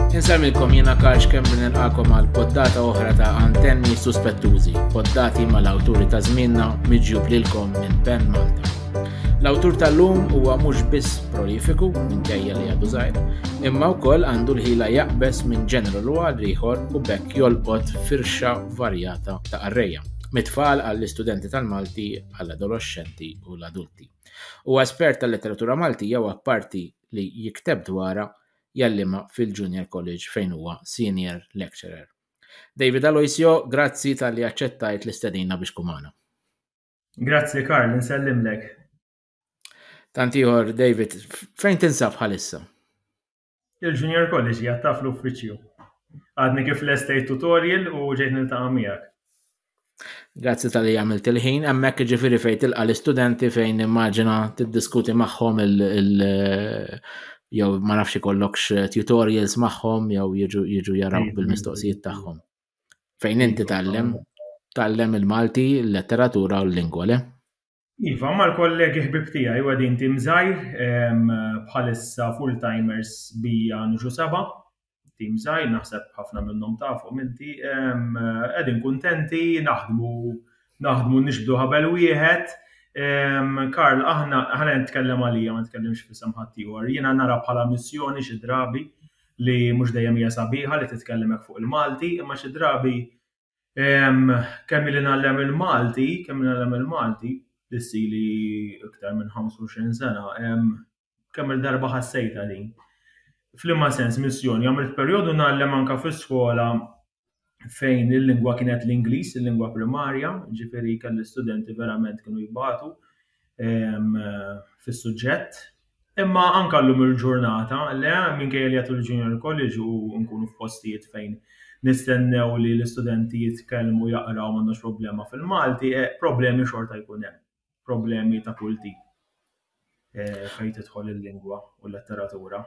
Insemmilkom jiena Karl Xkemmi nilqakom għal poddata oħra ta' antenni suspettużi, poddati mal-awturi ta' żmienna miġjub lilkom minn Ben Malta. L-awtur tal-lum huwa mhux biss prolifiku minn kejja li għadu żgħir, imma wkoll għandu l-ħila jaqbes minn ġeneru l għal ieħor u bekk jolqot firxa varjata ta' arreja, mit-tfal għall-istudenti tal-Malti għall-adoloxxenti u l-adulti. Huwa espert tal-letteratura Maltija u apparti li jikteb dwarha, jgħallimha fil-Junior College fejn huwa Senior Lecturer. David Aloisio, grazzi talli aċċettajt l-istedina biex tkun magħna. Grazzi Karl, nsellimlek. Tant ieħor David, fejn tinsab bħalissa? Il-Junior College hija taf l-uffiċċju. Għadni kif l-estate tutorial u ġejt niltaqa' miegħek. Grazzi tal-li għamilt il-ħin, emmek ġifiri fej tilqa l-istudenti fejn immaġina tiddiskuti maħħom il- jew ma nafx ikollokx tutorials maħħom jew jiġu jaraw mm-hmm. bil-mistoqsijiet tagħhom. Fejn inti tallem, tallem il-Malti, l-letteratura u l-lingwa, le? Iva, ma l-kollegi ħbib tiegħi u għadin tim żgħir bħalissa full-timers bija nġu seba' tim żgħir naħseb ħafna minnhom tafhom inti qegħdin kuntenti naħdmu naħdmu nixbdu ħabel wieħed. Karl, aħna ħana nitkellem għalija ma nitkellimx fisem ħadd ieħor. Jiena nara bħala missjoni xi drabi li mhux dejjem hija sabiħa li titkellem hekk fuq il-Malti, imma xi drabi Kemm ili ngħallem il-Malti, kemm ili ngħallem il-Malti, issili iktar minn 25 sena, kemm il-darba ħassejtha din. F'liema sens missjoni, għamilt perjodu ngħallem anke fi skola fejn il-lingwa kienet l-Ingliż, il-lingwa primarja, ġifieri kelli studenti verament kienu jbatu. fis-suġġett. Imma anke llum il-ġurnata, le, minkejja li għatul il-Junior College u nkunu f'postijiet fejn nistennew li l-istudenti jitkellmu, jaqraw m'għandhomx problema fil-Malti, problemi xorta jkun hemm. Problemi ta' kull tip fejn tidħol il-lingwa u l-letteratura.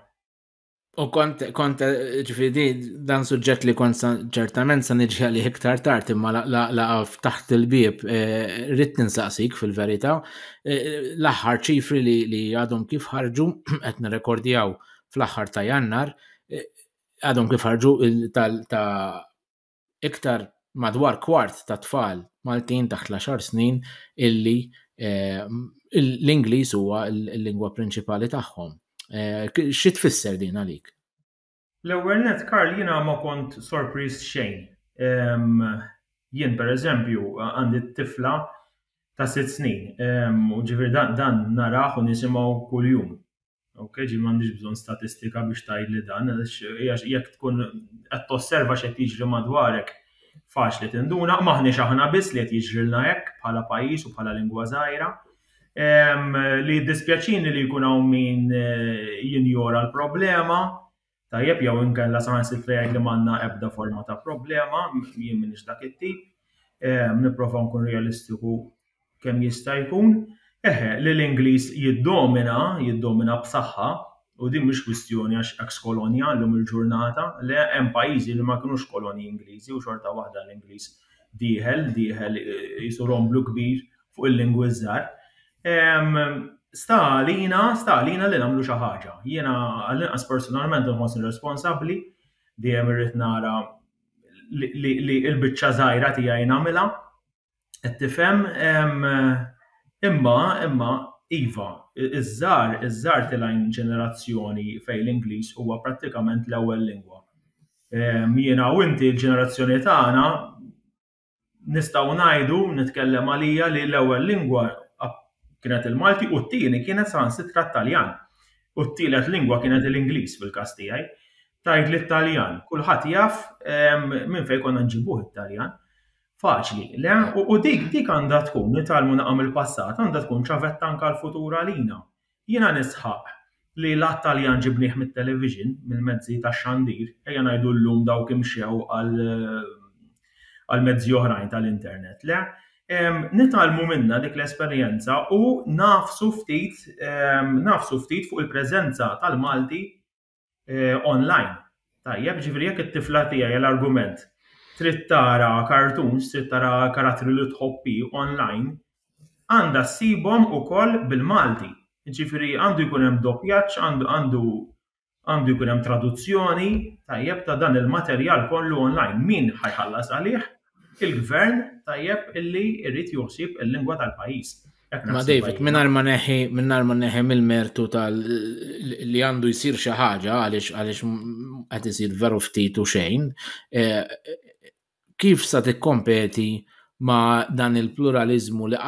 U kont, kont, ġifiri, dan suġġett li kont ċertament sa nġi li iktar tard imma laqaf taħt il-bib, eh, rrit ninsaqsik fil-verita, eh, l-axħar ċifri li għadhom kif ħarġu, qed nirrekordjaw fl-axħar ta' jannar, eh, għadhom kif ħarġu ta' Iktar madwar kwart ta' tfal Maltin taħt l-għaxar snin illi l-Ingliż huwa l-lingwa prinċipali tagħhom. Xi tfisser din għalik? L-ewwel nett, Karl, jiena ma kont sorpriż xejn. Jien, pereżempju, għandi tifla ta' sitt snin, u ġifieri dan narah u nisimgħu kuljum. Ok, ġi m'għandix bżonn statistika biex tgħidli dan, għax jekk tkun qed tosserva x'qed jiġri madwarek, faċli tinduna, m'aħniex aħna biss li qed jiġrilna hekk bħala pajjiż u bħala lingwa żgħira. Li jiddispjaċini li jkun hawn min eh, jinjora l-problema, Tajjeb jew inkella saħansitra jgħid li m'għandna ebda forma ta' problema, jien m'iniex dak it-tip, ehm, nipprova nkun realistiku kemm jista' jkun. Eħe, li l-Ingliż jiddomina, jiddomina b'saħħa, u din mhix kwistjoni għax ex kolonja llum il-ġurnata, le hemm pajjiżi li ma kinux kolonji Ingliżi u xorta waħda l-Ingliż dieħel, dieħel jisu romblu kbir fuq il-lingwi żgħar. Sta għalina, sta għalina li nagħmlu xi ħaġa. Jiena għall-inqas personalment nħossni responsabbli dejjem irrid nara li l-biċċa żgħira tiegħi nagħmilha. Qed tifhem imma imma iva, iż-żgħar iż-żgħar tilgħin ġenerazzjoni fejn l-Ingliż huwa prattikament l-ewwel lingwa. Jiena u inti l-ġenerazzjoni tagħna nistgħu ngħidu, nitkellem għalija li l-ewwel lingwa kienet il-Malti u t-tieni kienet saħansitra t-Taljan. U t-tielet lingwa kienet l-Ingliż fil-każ tiegħi. Tajt li t-Taljan, kulħadd jaf ehm, minn fejn konna nġibuh it-Taljan. Faċli, le? U dik dik għandha tkun, nitalmu naqam il-passat, għandha tkun ċavetta anka l-futur għalina. Jiena nisħaq li l-għadd Taljan ġibnieh mit-television, mill-mezzi tax-xandir, ejja ngħidu llum dawk imxew għal mezzi oħrajn tal-internet, le? nitgħallmu minnha dik l-esperjenza u ngħafsu ftit ngħafsu ftit fuq il-preżenza tal-Malti online. Tajjeb, ġifieri jekk it-tifla tiegħi għal argument trid tara cartoons, trid tara karattri li tħobbi online, għandha ssibhom ukoll bil-Malti. Ġifieri għandu jkun hemm doppjaġġ, għandu għandu jkun hemm traduzzjoni tajjeb ta' dan il-materjal kollu online. Min ħajħallas għalih? il-gvern tajjeb illi jrid joħsib il-lingwa tal-pajjiż. Ma David, minnar ma neħi, minnar ma neħi mill-mertu tal li għandu jisir xi ħaġa għaliex għaliex qed isir veru ftit u xejn, e, kif sa tikkompeti ma dan il-pluralizmu li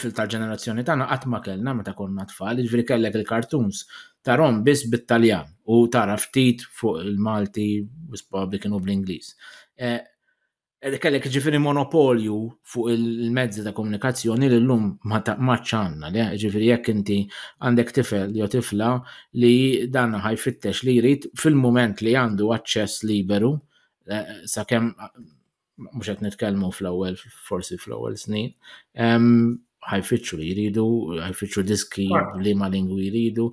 fil-tal-ġenerazzjoni tagħna qatt ma kellna meta konna tfal, jiġri kellek il-kartuns tarom biss bit-Taljan u tara ftit fuq il-Malti u kienu bl-Ingliż. E, kellek ġifiri monopolju fuq il-mezzi ta' komunikazzjoni li l-lum maċ għanna, li ġifiri jekk inti għandek tifel jew tifla li dan ħajfittex li jrid fil-moment li għandu aċċess liberu, eh, sa' kem mux għet nitkelmu fl-ewel, forsi fl-ewel snin, ħajfittxu li jridu, ħajfittxu diski li ma lingwi jridu,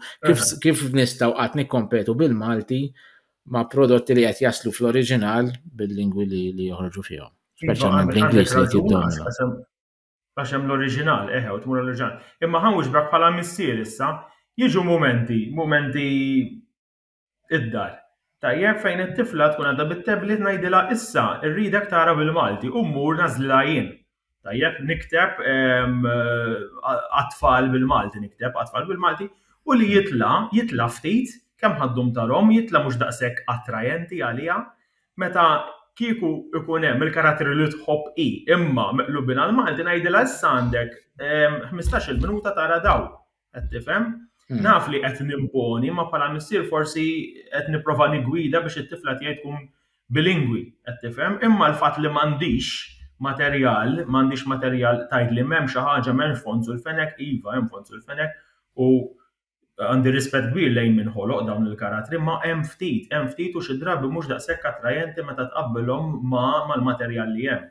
kif nistaw għat nikkompetu bil-Malti ma' prodotti li qed jaslu fl-oriġinal bil-lingwi li, li joħorġu fihom. Iva, Speċjalment għandek- bl-Ingliż għandek li raġun, tiddomina. għax hemm- Għax hemm l-oriġinal, eħe, u tmur l-oriġinal. Imma ħan wixbrak bħala missier issa, jiġu mumenti, mumenti id-dar. Tajjeb, fejn it-tifla tkun għadha bit-tablet ngħidilha issa rridek tara bil-Malti u mmur nażlilha jien. Tajjeb, nikteb għatfall bil-Malti, nikteb għatfall bil-Malti, u li jitla, jitla ftit, kemm ħaddum tarom, jitla mhux daqshekk attrajenti għaliha, meta kieku ikun hemm il-karatteri li tħobb hi, imma meqlubin għall-Malti ngħidilha issa għandek 15-il minuta tara dawn. Qed tifhem? Hmm. Naf li qed nimponi, ma bħala missier forsi qed nipprova nigwida biex it-tifla tiegħi tkun bilingwi, qed tifhem? Imma l-fatt li m'għandix materjal, m'għandix materjal tajt li m'hemm xi ħaġa m'hemmx fond sul fenek, iva hemm fond sul fenek u għandi rispett kbir lejn minn ħoloq dawn il-karatri, ma hemm ftit, hemm ftit u xi drabi mhux daqshekk attrajenti meta tqabbilhom mal-materjal li hemm.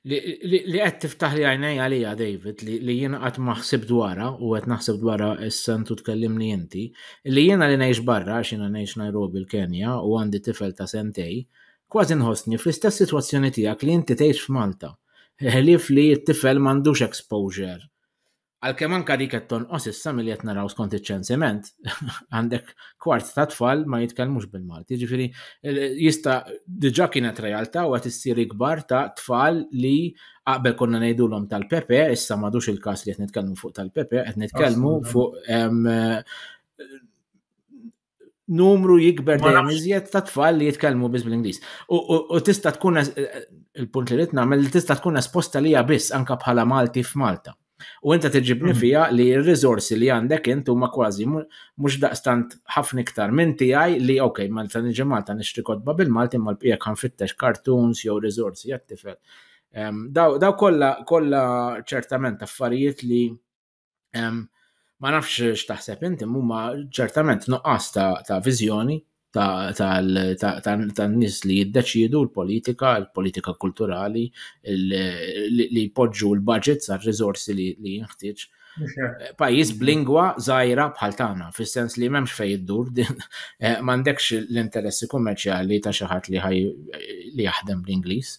li qed tiftaħ li għajnej għalija David li jiena qatt ma ħsib dwarha u qed naħseb dwarha issa intu tkellimni inti li jiena li ngħix barra għax jiena ngħix Nairobi l-Kenja u għandi tifel ta' sentej kważi nħossni fl-istess sitwazzjoni tiegħek li inti tgħix f'Malta. Ħlief li t-tifel m'għandux exposure Għalkemm anka dik qed tonqos issa milli qed naraw skont iċ-ċensiment, għandek kwart ta' tfal ma jitkellmux bil-Malti. Ġifieri jista' diġà kienet realtà u qed issir ikbar ta' tfal li qabel konna ngħidulhom tal-Pepe, issa m'għadux il-każ li qed nitkellmu fuq tal-Pepe, qed nitkellmu fuq numru jikber dejjem iżjed ta' tfal li jitkellmu biss bl-Ingliż. U tista' tkun il-punt li rid nagħmel li tista' tkun esposta lija biss anka bħala Malti f'Malta. U inta tiġibni mhm. fija li r-riżorsi li għandek int huma kważi mhux daqstant ħafna iktar minn tiegħi li ok, Malta niġi Malta nixtri kotba bil-Malti imma l-bqija kan fittex kartuns jew riżorsi għat-tifel. Daw kollha kollha ċertament affarijiet li Ma nafx x'taħseb inti huma ċertament nuqqas ta' viżjoni tan-nies li jiddeċiedu l-politika, l-politika kulturali, li jpoġġu l-budget sa' riżorsi li jinħtieġ. Pajjiż b'lingwa żgħira bħal tagħna, fis-sens li m'hemmx fejn iddur, eh, m'għandekx l-interessi kummerċjali ta' xi ħadd li ħaj li jaħdem bl-Ingliż.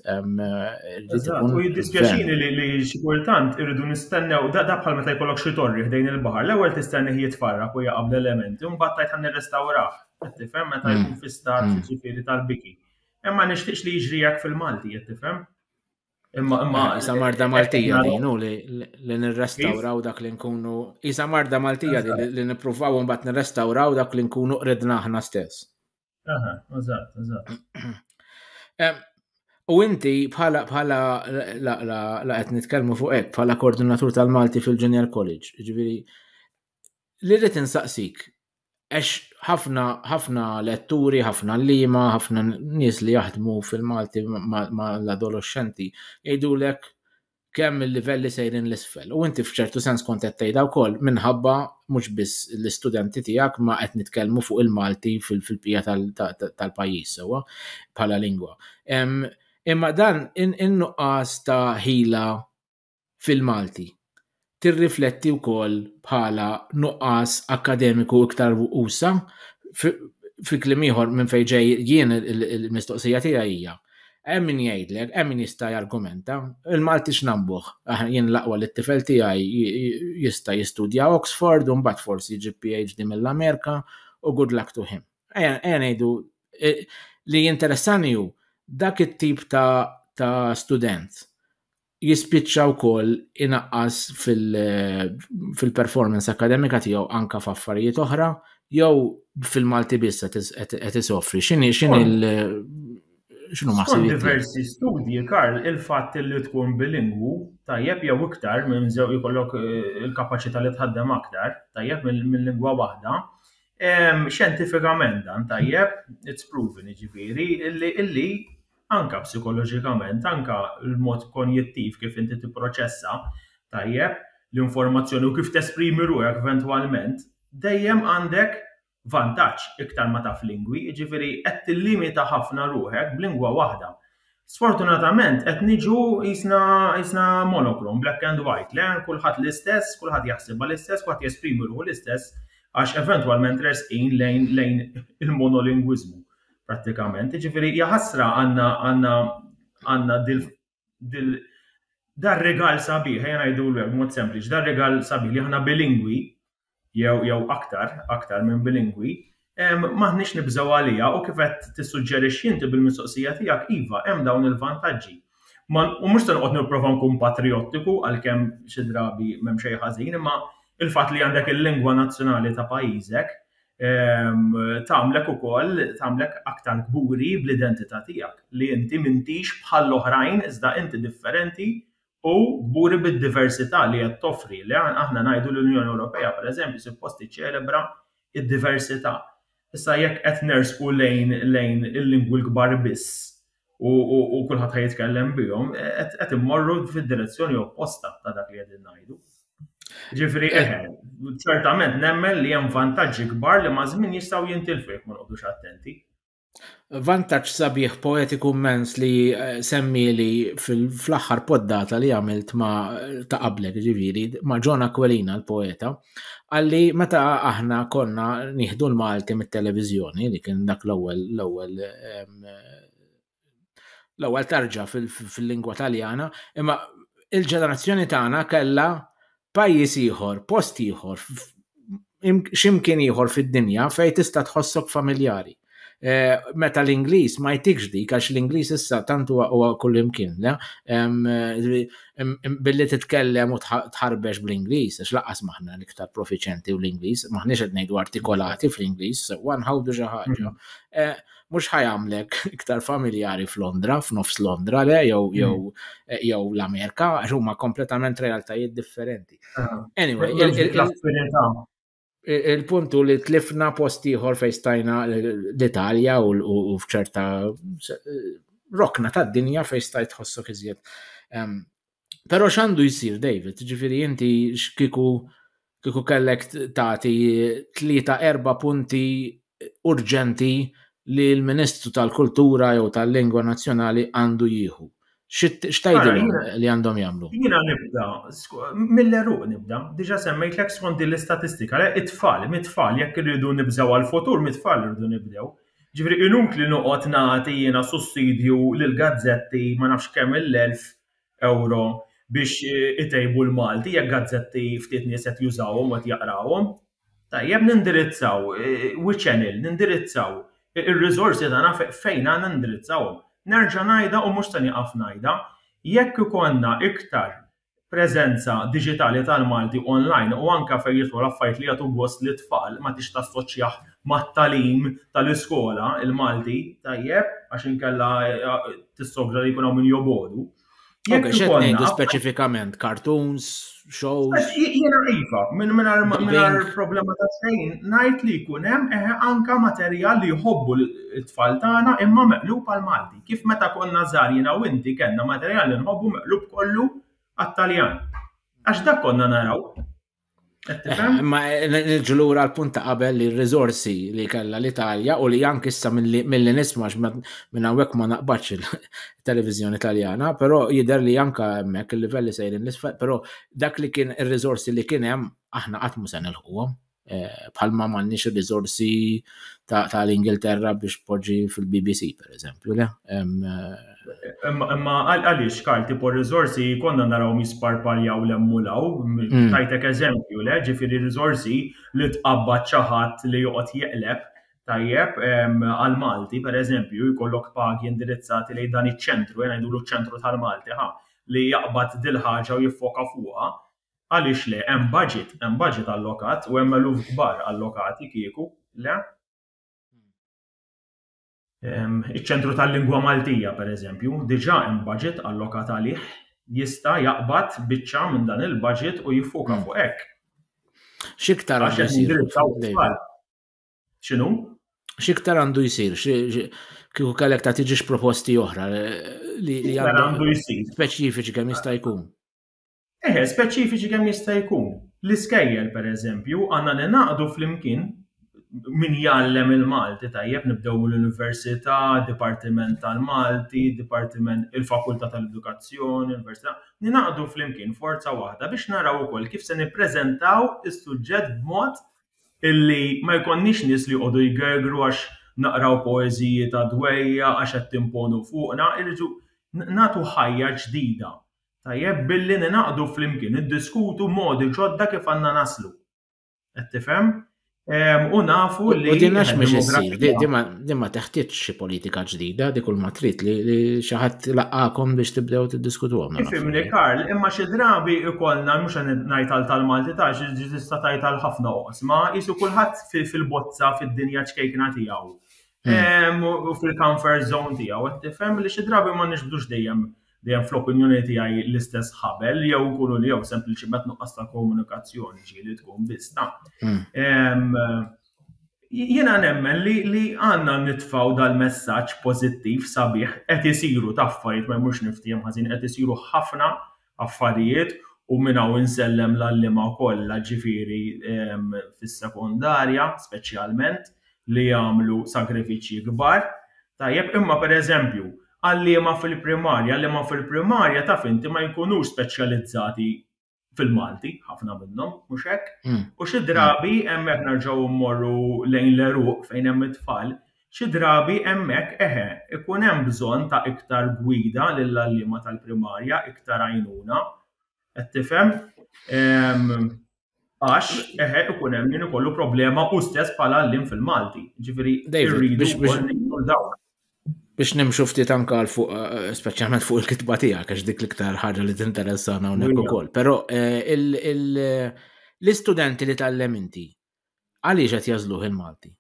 U jiddispjaċini li xi kultant irridu nistennew da bħal meta jkollok xi torri ħdejn il-baħar. L-ewwel tistenni jitfarrak u jaqab l-elementi, mbagħad tajt ħan nirrestawrah. Qed tifhem meta hmm. jkun fi stat hmm. ġifieri tal-biki. Imma nixtieqx li jiġri hekk fil-Malti, qed tifhem? Imma imma ah, isa marda Maltija dinu li nirrestawraw dak li nkunu isa marda Maltija li nippruvaw mbagħad nirrestawraw dak li nkunu qridna aħna stess. Aha, eżatt, eżatt. U inti bħala bħala la qed nitkellmu fuq hekk bħala koordinatur tal-Malti fil-Junior College, ġifieri li rrid insaqsik għax ħafna ħafna letturi, ħafna lima, ħafna nies li jaħdmu fil-Malti ma' l-adolescenti jgħidulek kemm il-livelli sejrin 'l isfel. U inti f'ċertu sens kont qed tgħidha wkoll minħabba mhux biss l-istudenti tiegħek ma qed nitkellmu fuq il-Malti fil-bqija tal-pajjiż sewwa bħala lingwa. Imma dan in-nuqqas ta' ħila fil-Malti tirrifletti wkoll bħala nuqqas akkademiku iktar usa' fi kliem ieħor minn fejn ġej jien il-mistoqsija tiegħi hija hemm min jgħidlek, hemm min jista' jargumenta, il-Malti x'nambuh? Jien l-aqwa li t-tifel tiegħi jista' jistudja Oxford u mbagħad forsi jġib PhD mill-Amerika u good luck to him. Ejja ngħidu li jinteressani hu dak it-tip ta' student jispiċċa wkoll inaqqas fil-performance akademika tiegħu anka f'affarijiet oħra jew fil-Malti biss qed isofri. X'inhi x'inhi l x'inhu ma Skont diversi studji Karl il-fatt li tkun bilingwu tajjeb jew iktar minn żew ikollok eh, il-kapaċità li tħaddem aktar tajjeb minn lingwa waħda. Xjentifikament dan tajjeb, it's proven jiġifieri, illi anke psikoloġikament, anke l-mod konjittiv kif inti tipproċessa tajjeb l-informazzjoni u kif tesprimi ruħek eventwalment, dejjem għandek vantaġġ iktar ma taf lingwi, jiġifieri qed tillimita ħafna ruħek b'lingwa waħda. Sfortunatament qed niġu qisna qisna monochrome, black and white, le kulħadd l-istess, kulħadd jaħsibha l-istess, kulħadd jesprimi ruħu l-istess għax eventwalment resqin lejn lejn il-monolingwiżmu. prattikament. Ġifieri hija ħasra għandna għandna għandna dil dil dar regal sabiħ, ejja ngħidu mod sempliċi, dar regal sabiħ li aħna bilingwi jew jew aktar, aktar minn bilingwi, maħniex nibżgħu għalija u kif qed tissuġġerixxi inti bil-mistoqsija tiegħek iva hemm dawn il-vantaġġi. U mhux se noqgħod nipprova nkun patriottiku għalkemm xi drabi m'hemm xejn ħażin, imma il-fatt li għandek il-lingwa nazzjonali ta' pajjiżek tagħmlek ukoll tagħmlek aktar kburi bl-identità tiegħek, li inti m'intix bħall-oħrajn iżda inti differenti u kburi bid-diversità li qed toffri, li aħna ngħidu l-Unjoni Ewropea pereżempju suppost tiċċelebra d-diversità. Issa jekk qed nersqu lejn lejn il-lingwi l-kbar biss, u kulħadd ħa jitkellem bihom, qed immorru fid-direzzjoni opposta ta' dak li qegħdin ngħidu. Ġifieri eh, ċertament nemmen li hemm vantaġġi kbar li ma' żmien jistgħu jintilfu jekk ma noqgħodux attenti. Vantaġġ sabiħ poetiku mens li eh, semmili fl-aħħar poddata li għamilt ma ta' qablek ġifieri ma' John Aquilina l-poeta, għalli meta aħna konna nieħdu l-Malti mit-televiżjoni li kien dak l-ewwel l-ewwel ehm, l-ewwel tarġa fil-lingwa Taljana, imma il-ġenerazzjoni tagħna kellha pajjiż ieħor, post ieħor, x'imkien ieħor fid-dinja fejn tista' tħossok familjari. E, meta l-Ingliż ma jtikx dik għax l-Ingliż issa tant huwa kull imkien, billi titkellem u tħarbex bl-Ingliż, għax laqas maħna l-iktar profiċenti u l-Ingliż, maħniex qed ngħidu artikolati fl-Ingliż, sewa nħawdu xi ħaġa. Mm-hmm. E, mhux ħajamlek iktar familjari f'Londra, f'nofs Londra le jew mm. jew jew l-Amerika għax huma kompletament realtajiet differenti. Ah. Anyway, il-puntu li tlifna post ieħor fejn stajna l-Italja u f'ċerta rokna tad-dinja fejn stajt tħossok iżjed Però x'għandu jsir David, ġifieri inti x'kiku kiku kellek tagħti tlieta erba' punti urġenti li l-Ministru tal-Kultura jew tal-Lingwa Nazzjonali għandu jieħu. X'tajdilhom li għandhom jagħmlu? Jiena nibda, mill-eruq nibda, diġa semmejt l skont din l-istatistika, it-tfal, mit-tfal, jekk irridu nibżgħu għal-futur, mit-tfal irridu nibdew. Ġifieri inutli noqgħod nagħti jiena sussidju lill-gazzetti ma nafx kemm il-elf ewro biex itejbu l-Malti jekk gazzetti ftit nies qed jużawhom u qed jaqrawhom. Tajjeb nindirizzaw, we channel, nindirizzaw ir-riżorsi tagħna fejn għandna nindirizzawhom. Nerġa' ngħidha u mhux se nieqaf ngħidha, jekk ikollna iktar preżenza diġitali tal-Malti online u anke fejn jidħlu l-affarijiet li jagħtu gost lit-tfal, ma tridx tassoċjah mat-tagħlim tal-iskola l-Malti tajjeb għax inkella tissogra li jkun hawn min jobogħdu. Jekk ikollna speċifikament cartoons, shows. Jiena iva, minn minn problema ta' xejn, ngħid li jkun hemm eh, anka materjal li jħobbu l-tfal tagħna imma meqlub għal Malti. Kif meta konna żgħar jiena u inti kellna materjal li nħobbu meqlub kollu għat-Taljan. Għax dak konna naraw. Ma ġulura għal punta qabel li r-rizorsi li kella l-Italja u li anki issa mill-li nismax minn għawek ma naqbaċ il-televizjoni italjana, pero jider li anka mek il-livelli sejrin l-isfel, pero dak li kien il-rizorsi li kienem aħna għatmu sen il-ħuwa. Eh, bħalma ma nix il-rizorsi ta' l-Ingilterra biex poġi fil-BBC, per eżempju, le? Eh, Imma għaliex Karl tipo r-riżorsi konna narawhom jisparpaljaw l hemm u l hawn, mm. tajtek eżempju le, ġifieri riżorsi li tqabbad xi ħadd li joqgħod jeqleb tajjeb għal Malti pereżempju jkollok pagi indirizzati lejn dan iċ-ċentru, jena ngħidulu ċ-ċentru tal-Malti ħa, li jaqbad dil-ħaġa u jiffoka fuqha, għaliex le hemm budget, hemm budget allokat u hemm eluf kbar allokati kieku, le? Ehm, iċ-Ċentru tal-Lingwa Maltija, pereżempju, diġà hemm budget allokat għalih, jista' jaqbad biċċa minn dan il-budget u jiffoka hmm. fuq hekk. X'iktar għandu jsir? X'inhu? X'iktar għandu jsir? Kieku kellek ta' tiġix proposti oħra eh, li għandu jsir. Speċifiċi kemm jista' jkun. Eħe, speċifiċi kemm jista' jkun. L-iskejjel, per eżempju, għandna ninaqdu flimkien min jgħallem il-Malti tajjeb nibdew mill-Università, Dipartiment tal-Malti, Dipartiment il-Fakultà tal-Edukazzjoni, Università, ninaqdu flimkien forza waħda biex naraw ukoll kif se nippreżentaw is-suġġett b'mod illi ma jkollniex nies li jqogħdu jgergru għax naqraw poeżiji ta' dwejja għax qed timponu fuqna, irridu nagħtu ħajja ġdida Tajjeb, billi ninaqdu flimkien, niddiskutu modi ġodda kif għandna naslu. Qed tifhem? U nafu li. U din għax mhux issir, din ma teħtieġ xi politika ġdida, dik kull ma trid li xi ħadd laqgħakom biex tibdew tiddiskutuhom. Ifimni Karl, imma xi drabi ikollna mhux ngħid għal tal-Malti ta' xi tista' tgħid għal ħafna oqsma, qisu kulħadd fil-bozza fid-dinja ċkejkna tiegħu. Hmm. U fil-comfort zone tiegħu, qed tifhem li xi drabi ma nixbdux dejjem dejjem fl-opinjoni tiegħi l-istess ħabel jew nkunu li jew sempliċiment nuqqas ta' komunikazzjoni ġi li tkun biżna. Hmm. Jiena nemmen li għandna nitfaw dal-messaġġ pożittiv sabiħ qed isiru ta' affarijiet ma jmurx niftiem ħażin qed isiru ħafna affarijiet u minn hawn insellem l-allima kollha ġifieri fis-sekondarja speċjalment li jagħmlu sagrifiċċji kbar. Tajjeb imma pereżempju għalliema fil-primarja, għalliema fil-primarja taf inti ma jkunux speċjalizzati fil-Malti, ħafna minnhom, mhux hekk? Hmm. U xi drabi hemmhekk nerġgħu mmorru lejn l-eruq fejn hemm it-tfal, xi drabi hemmhekk eħe, ikun hemm bżonn ta' iktar gwida lill-għalliema tal-primarja, iktar għajnuna, qed tifhem? Ehm, Għax, eħe, ikun hemm min ikollu problema u stess bħala għallim fil-Malti. Ġifieri, biex nimxu ftit anka għal fuq, eh, speċjalment fuq il-kitba tiegħek, għax dik l-iktar ħaġa li tinteressana hawnhekk ukoll. Però eh, l-istudenti li tgħallem inti, għaliex qed jażluh il-Malti?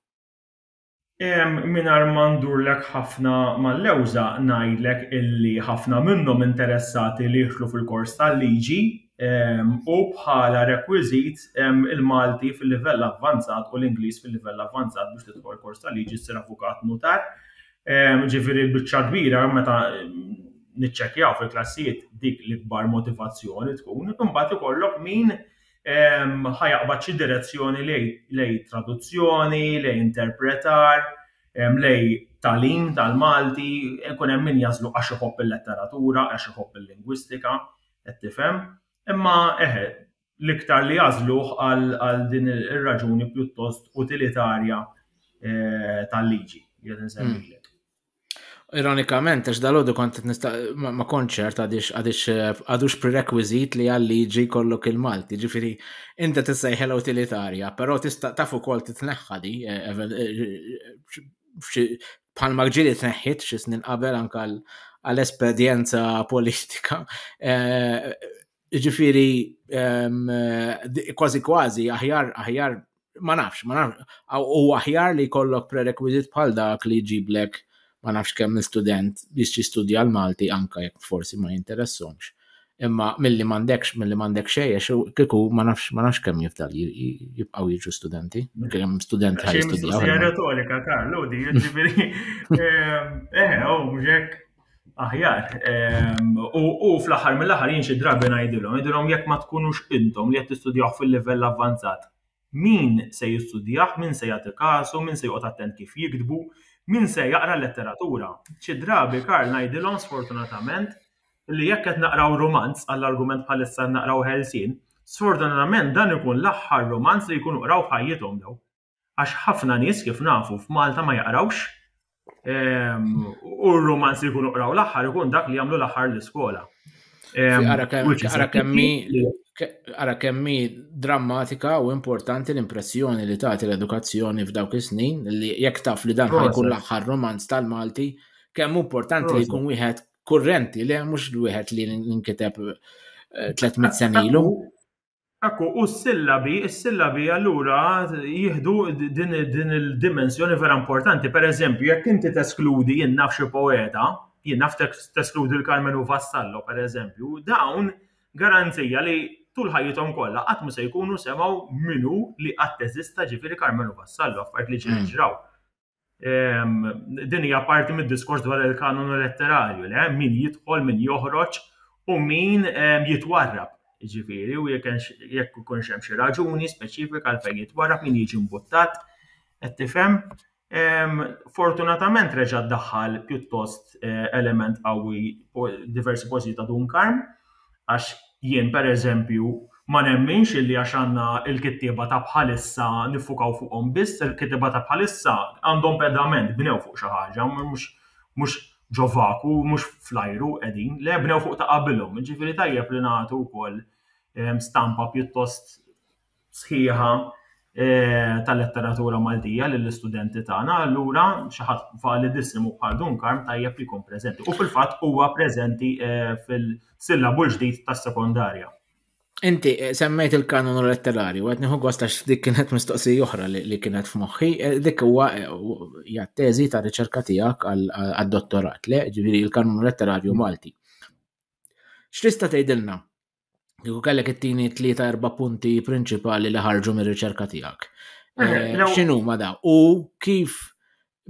Mingħajr ma ndurlek ħafna mal-lewża ngħidlek illi ħafna minnhom interessati li jidħlu fil-kors tal-liġi u bħala rekwiżit il-Malti fil-livell avvanzat u l-Ingliż fil-livell avvanzat biex tidħol kors tal-liġi ssir avukat, nutar. Ġifieri l-biċċa l-kbira meta niċċekkjaw fil-klassijiet dik l-ikbar motivazzjoni tkun. Imbagħad ikollok min ħa jaqbad xi direzzjoni lejn traduzzjoni, lejn interpretar, lejn tagħlim tal-Malti, ikun hemm min jagħżlu għax iħobb il-letteratura, għax iħobb il-lingwistika, qed tifhem? Imma eħe, l-iktar li jagħżluh għal din ir-raġuni pjuttost utilitarja tal-liġi, qiegħed insemmilek. Ironikament, għax dal-għodu kont ma konċert għadix eh, għadux prerequisit li għal-liġi kollok il-Malti, ġifiri, inta tissejħel utilitarja, pero tista tafu kol titneħħa di, eh, eh, bħal maġġili tneħħit xi snin qabel anka għal-espedjenza politika. Jiġifieri ehm, kważi kważi aħjar aħjar ma nafx, ma nafx, u aħjar li kollok prerequisit bħal dak li ġiblek ma nafx kemm student biex jistudja l-Malti anka jekk forsi ma jinteressomx. Imma milli m'għandekx, milli m'għandek xejjex, kieku ma nafx ma nafx kemm jifdal jibqgħu jiġu studenti, kemm student ħaj jistudja. Xejn retorika, Karlo, di jiġifieri. Eh, eh, oh, mhux hekk. aħjar. Ehm, u fl-aħħar mill-aħħar jien xi drabi ngħidilhom, ngħidilhom jekk ma tkunux intom li qed tistudjaw fil-livell avvanzat, min se jistudjah, min se jagħti kasu, min se joqgħod attent kif jiktbu, min se jaqra letteratura. Xi drabi Karl ngħidilhom sfortunatament li jekk qed naqraw romanz għall-argument bħalissa naqraw ħelsin, sfortunatament dan ikun l-aħħar romanz li jkunu qraw ħajjithom daw. Għax ħafna nies kif nafu f'Malta ma jaqrawx ehm, u r-romanz li jkunu qraw l-aħħar ikun dak li jagħmlu l-aħħar l-iskola. Ehm, ara kemmi drammatika u importanti l-impressjoni li tagħti l-edukazzjoni f'dawk is-snin li jekk taf li dan ħajkun l-aħħar romanz tal-Malti, kemm importanti li jkun wieħed kurrenti li mhux wieħed li nkiteb 300 eh, senilu. Ekku, u s-sillabi, s-sillabi allura jieħdu din il-dimensjoni vera importanti. Per eżempju, jekk inti teskludi jien naf xi poeta, jien naf teskludi l-Carmen u Vassallo, per eżempju, dawn garanzija li tul ħajjithom kollha qatt se jkunu semgħu minu li qatt eżista ġifieri Carmen u Vassallo, affarijiet li ġraw. Din hija parti mid-diskors dwar il-kanonu letterarju li hemm min jidħol, min joħroġ u min jitwarrab. Ġifieri, u jekk ikun hemm xi raġuni speċifika għal fejn jitwarrab, min jiġi mbuttat, qed tifhem. Fortunatament reġa' ddaħħal pjuttost element qawwi diversi poeżiji ta' Dun Karm. Għax jien, pereżempju, ma nemminx illi għax għandna l-kittieba ta' bħalissa niffukaw fuqhom biss, il-kittieba ta' bħalissa għandhom pedament, bnew fuq xi ħaġa, mhux mhux ġo vaku, mhux fl-ajru qegħdin, le bnew fuq ta' qabilhom, jiġifieri tajjeb li nagħtu wkoll stampa pjuttost sħiħa tal-letteratura Maltija lill-istudenti tagħna, allura xi ħadd validissimo bħal Dun Karm tajjeb li jkun preżenti. U fil-fatt huwa preżenti eh, fil-sillabu l-ġdid tas-sekondarja. Inti eh, semmejt il-kanonu letterarju, għet nieħu gost għax dik kienet mistoqsi oħra li kienet f'moħħi, eh, dik huwa hija teżi ta' riċerka tiegħek għad-dottorat, le, ġifieri il-kanonu letterarju Malti. X'tista' tgħidilna Kieku kellek it-tieni tlieta erba' punti prinċipali li ħarġu mir-riċerka tiegħek. Eh, eh, x'inhu ma da? U kif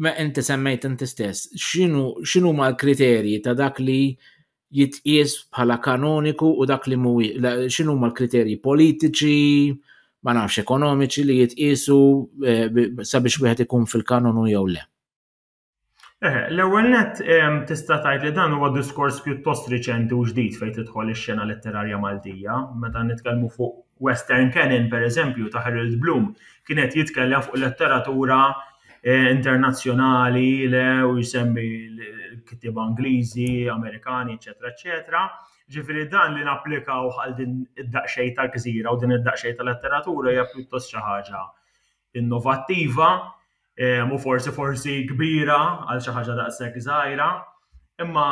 ma inti semmejt inti stess, x'inhu ma l-kriterji ta' dak li jitqies bħala kanoniku u dak li mhuwi, x'inhu ma l-kriterji politiċi, ma nafx ekonomiċi li jitqiesu eh, sabiex wieħed ikun fil-kanonu jew le. Eħe, l-ewwel nett tista' tgħid li dan huwa diskors pjuttost riċenti u ġdid fejn tidħol ix-xena letterarja Maltija. Meta nitkellmu fuq Western Canon, pereżempju, ta' Harold Bloom, kien qed jitkellem fuq letteratura eh, internazzjonali le u jsemmi l-kittieba Ingliżi, Amerikani, eċetera, eċetera. Ġifieri dan li napplikaw għal din id-daqsxejn tal-gżira u din id-daqsxejn tal-letteratura hija pjuttost xi ħaġa innovattiva u forsi forsi kbira għal xi ħaġa daqshekk żgħira, imma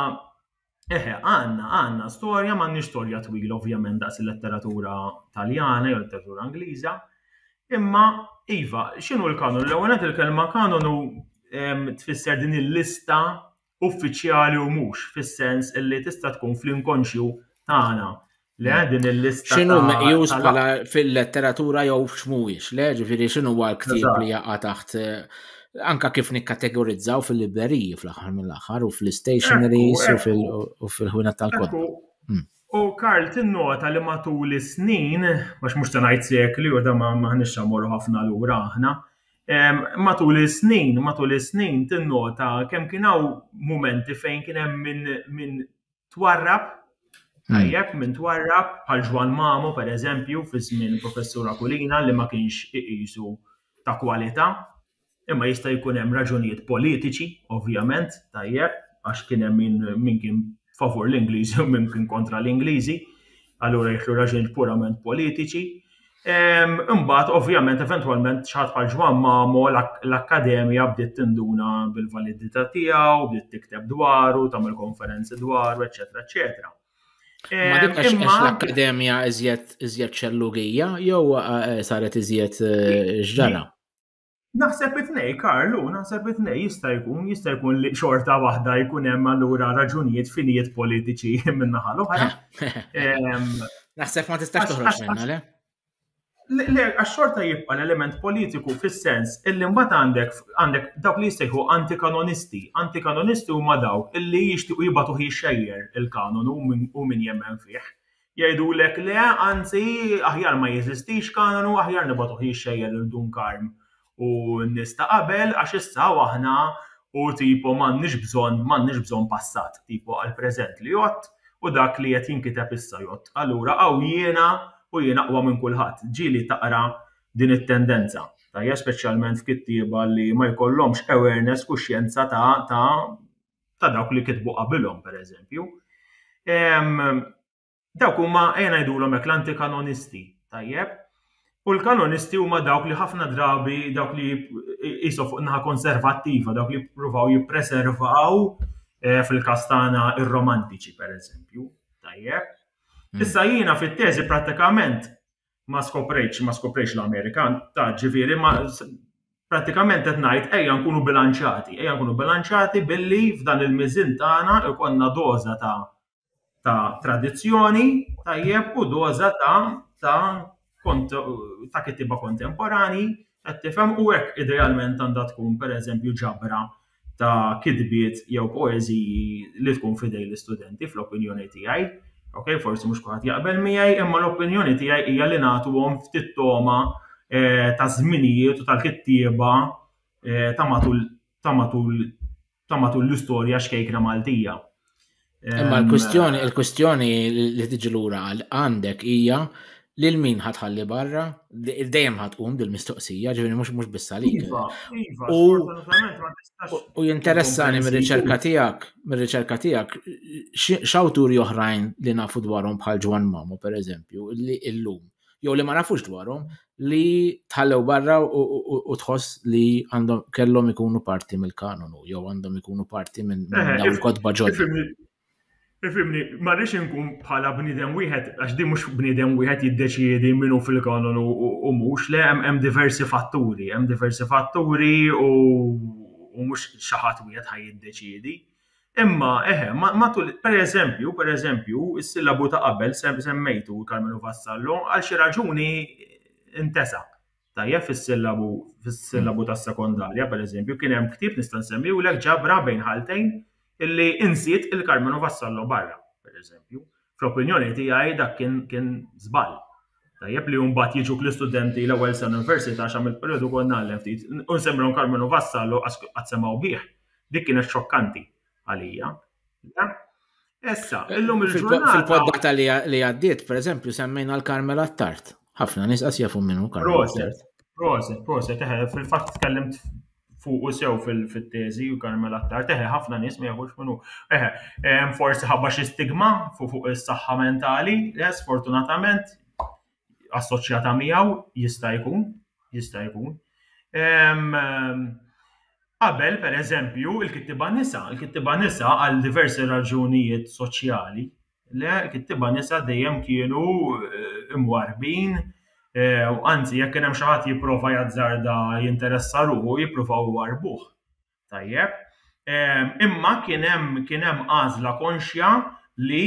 eħe għandna għandna storja m'għandniex storja twila ovvjament daqs il-letteratura Taljana jew letteratura Ingliża, imma iva, x'inhu l-kanon? L-ewwel il-kelma kanon hu tfisser din il-lista uffiċjali u mhux, fis-sens li tista' tkun fl-inkonxju tagħna Le, hmm. din il-lista. X'inhu meqjus bħala fil-letteratura jew x'mhuwiex, le, ġifieri x'inhu huwa l-ktieb li jaqa' taħt eh, anka kif nikkategorizzaw fil-libreriji fl-aħħar mill-aħħar u fl-stationaries u fil-ħwina tal-kod. Hmm. U Karl tinnota li matul is-snin, għax mhux ta' ngħid sekli u da ma ħnix ħafna lura aħna, Matul is-snin, matul is-snin tinnota kemm kien hawn mumenti fejn kien hemm min min twarrab, tajjeb, min twarrab, bħal Ġwann Mamo pereżempju fi żmien Professur Aquilina li ma kienx iqisu ta' kwalità, imma jista' jkun hemm raġunijiet politiċi, ovvjament, tajjeb, għax kien hemm min min kien favur l-Ingliżi u min kien kontra l-Ingliżi, allura jidħlu raġunijiet purament politiċi. Imbagħad ovvjament eventwalment xi ħadd bħal Ġwann Mamo l-Akkademja bdiet tinduna bil-validità tiegħu, bdiet tikteb dwaru, tagħmel konferenzi dwaru, eċetera, eċetera. Ma dik għax l-Akkademja iżjed ċellugija jew eh, saret iżjed eh, ġdara? Naħseb it-tnej, Karlu, naħseb it-tnej jista' jkun, jista' jkun li xorta waħda jkun hemm allura raġunijiet finijiet politiċi min-naħa l-oħra. Naħseb ma tistax toħroġ minna, le? Le, għax xorta jibqa l-element politiku fis-sens illi mbagħad għandek għandek dawk li jistejħu antikanonisti. Antikanonisti huma dawk illi jixtiequ jibatu xejjer il-kanon u min jemmen fih. Jgħidulek le, anzi, aħjar ma jeżistix kanonu, aħjar nibagħtuh jixxejjer lil Dun Karm u n-nies ta' qabel għax issa hawn aħna u tipo m'għandniex bżonn, m'għandniex bżonn passat, tipo għall-preżent li jgħodd u dak li qed jinkiteb issa jgħodd. Allura hawn jiena u jien aqwa minn kulħadd. Ġieli taqra din it-tendenza, tajjeb, speċjalment f'kittieba li ma jkollhomx awareness, kuxjenza ta' ta' ta' dawk li kitbu qabilhom pereżempju. Dawk huma ejja ngħidulhom hekk l-antikanonisti, tajjeb? U l-kanonisti huma dawk li ħafna drabi dawk li jisu fuq naħa konservattiva, dawk li jippruvaw jippreservaw eh, fil-kastana ir-romantiċi pereżempju, tajjeb? Hmm. Issa jiena fit-teżi prattikament ma skoprejtx, ma skoprejtx l-Amerika, ta' ġifieri ma pratikament qed ngħid ejja nkunu bilanċati, ejja nkunu bilanċati billi f'dan il-miżin tagħna ikonna doża ta' ta' tradizzjoni tajjeb u doża ta' ta' ta' kittiba kontemporani qed tifhem u hekk idealment għandha tkun pereżempju ġabra ta' kitbiet jew poeżiji li tkun fidej l-istudenti fl-opinjoni tiegħi. Ok, forsi mhux kulħadd jaqbel miegħi, imma l-opinjoni tiegħi hija li nagħtuhom ftit toma eh, ta' żminijiet u tal-kittieba eh, ta' matul ta' matul ta' matul l-istorja xkejkna Maltija. Imma ehm, l-kwistjoni, eh, l-kwistjoni li tiġi lura għal għandek hija lil min ħatħalli barra, dejjem ħatqum dil-mistoqsija, ġifieri mhux mhux biss għalik. Iva, iva, u jinteressani mir-riċerka tiegħek, mir-riċerka tiegħek, x'awturi oħrajn li nafu dwarhom bħal Ġwan Mamo pereżempju, li illum jew li ma nafux dwarhom li tħallew barra u tħoss li għandhom kellhom ikunu parti mill-kanonu jew għandhom ikunu parti minn eh, dawn il-kotba ġodda. Ifimni, ma rridx inkun bħala bniedem wieħed, għax di mhux bniedem wieħed jiddeċiedi minnu fil-kanonu u mhux, le hemm diversi fatturi, hemm diversi fatturi u mhux xi ħadd wieħed ħaj jiddeċiedi. Imma, eħe, matul, per eżempju, per eżempju, is-sillabu ta' qabel semmejtu, Karmenu Vassallo, għal xi raġuni ntesa. Tajjeb fis-sillabu fis-sillabu tas-sekondarja, per eżempju, kien hemm ktieb nista' nsemmiwlek ġabra bejn ħaltejn illi insiet il-Karmenu Vassallo barra, per eżempju. fl-opinjoni tiegħi dak kien kien żball. Tajjeb li mbagħad jiġu l-istudenti l-ewwel sena università għax għamilt perjodu kont nagħlem ftit. U nsemmilhom Karmenu Vassallo għax qatt semgħu bih. Dik kienet xokkanti għalija. Issa, eh, illum il-ġurnata. Fil-poddata li għaddiet, per eżempju, semmejna l-Karmel Attart. ħafna nis qas jafu minnu Karmel Attart. Proset, proset, eh, fil-fatt tkellimt fuqu sew fit-teżi u Carmel Attar teħe ħafna nies ma jafux minnu. Eħe, eh, forsi ħabba xi stigma fuq is-saħħa mentali, eh, sfortunatament assoċjata miegħu jista' jkun, jista' jkun. Qabel, per eżempju, il-kittiba nisa, il-kittiba nisa għal diversi raġunijiet soċjali, Le, il-kittieba nisa dejjem kienu imwarrbin u anzi jekk kien hemm xi ħadd jipprova jazzarda jinteressa ruħu jippruvaw iwarrbuh. Tajjeb. Imma kien hemm kien hemm għażla konxja li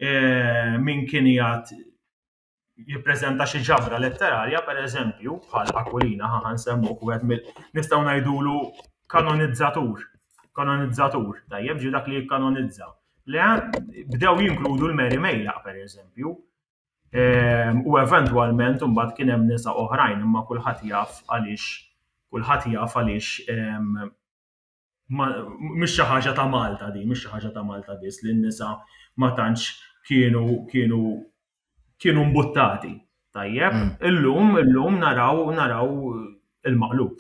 min kien jgħid jippreżenta xi ġabra letterarja, pereżempju, bħal Aquilina, ħa nsemmu wieħed mill nistgħu ngħidulu kanonizzatur. Kanonizzatur, tajjeb ġi dak li jikkanonizza. Le bdew jinkludu l-Mary Mejla, pereżempju, ehm, u eventwalment imbagħad kien hemm nisa oħrajn imma kulħadd jaf għaliex kulħadd jaf għaliex ehm, mhix xi ħaġa ta' Malta din, mhix xi ħaġa ta' Malta biss li n-nisa ma tantx kienu kienu kienu mbuttati. Tajjeb, mm. illum illum naraw naraw il-maqlub.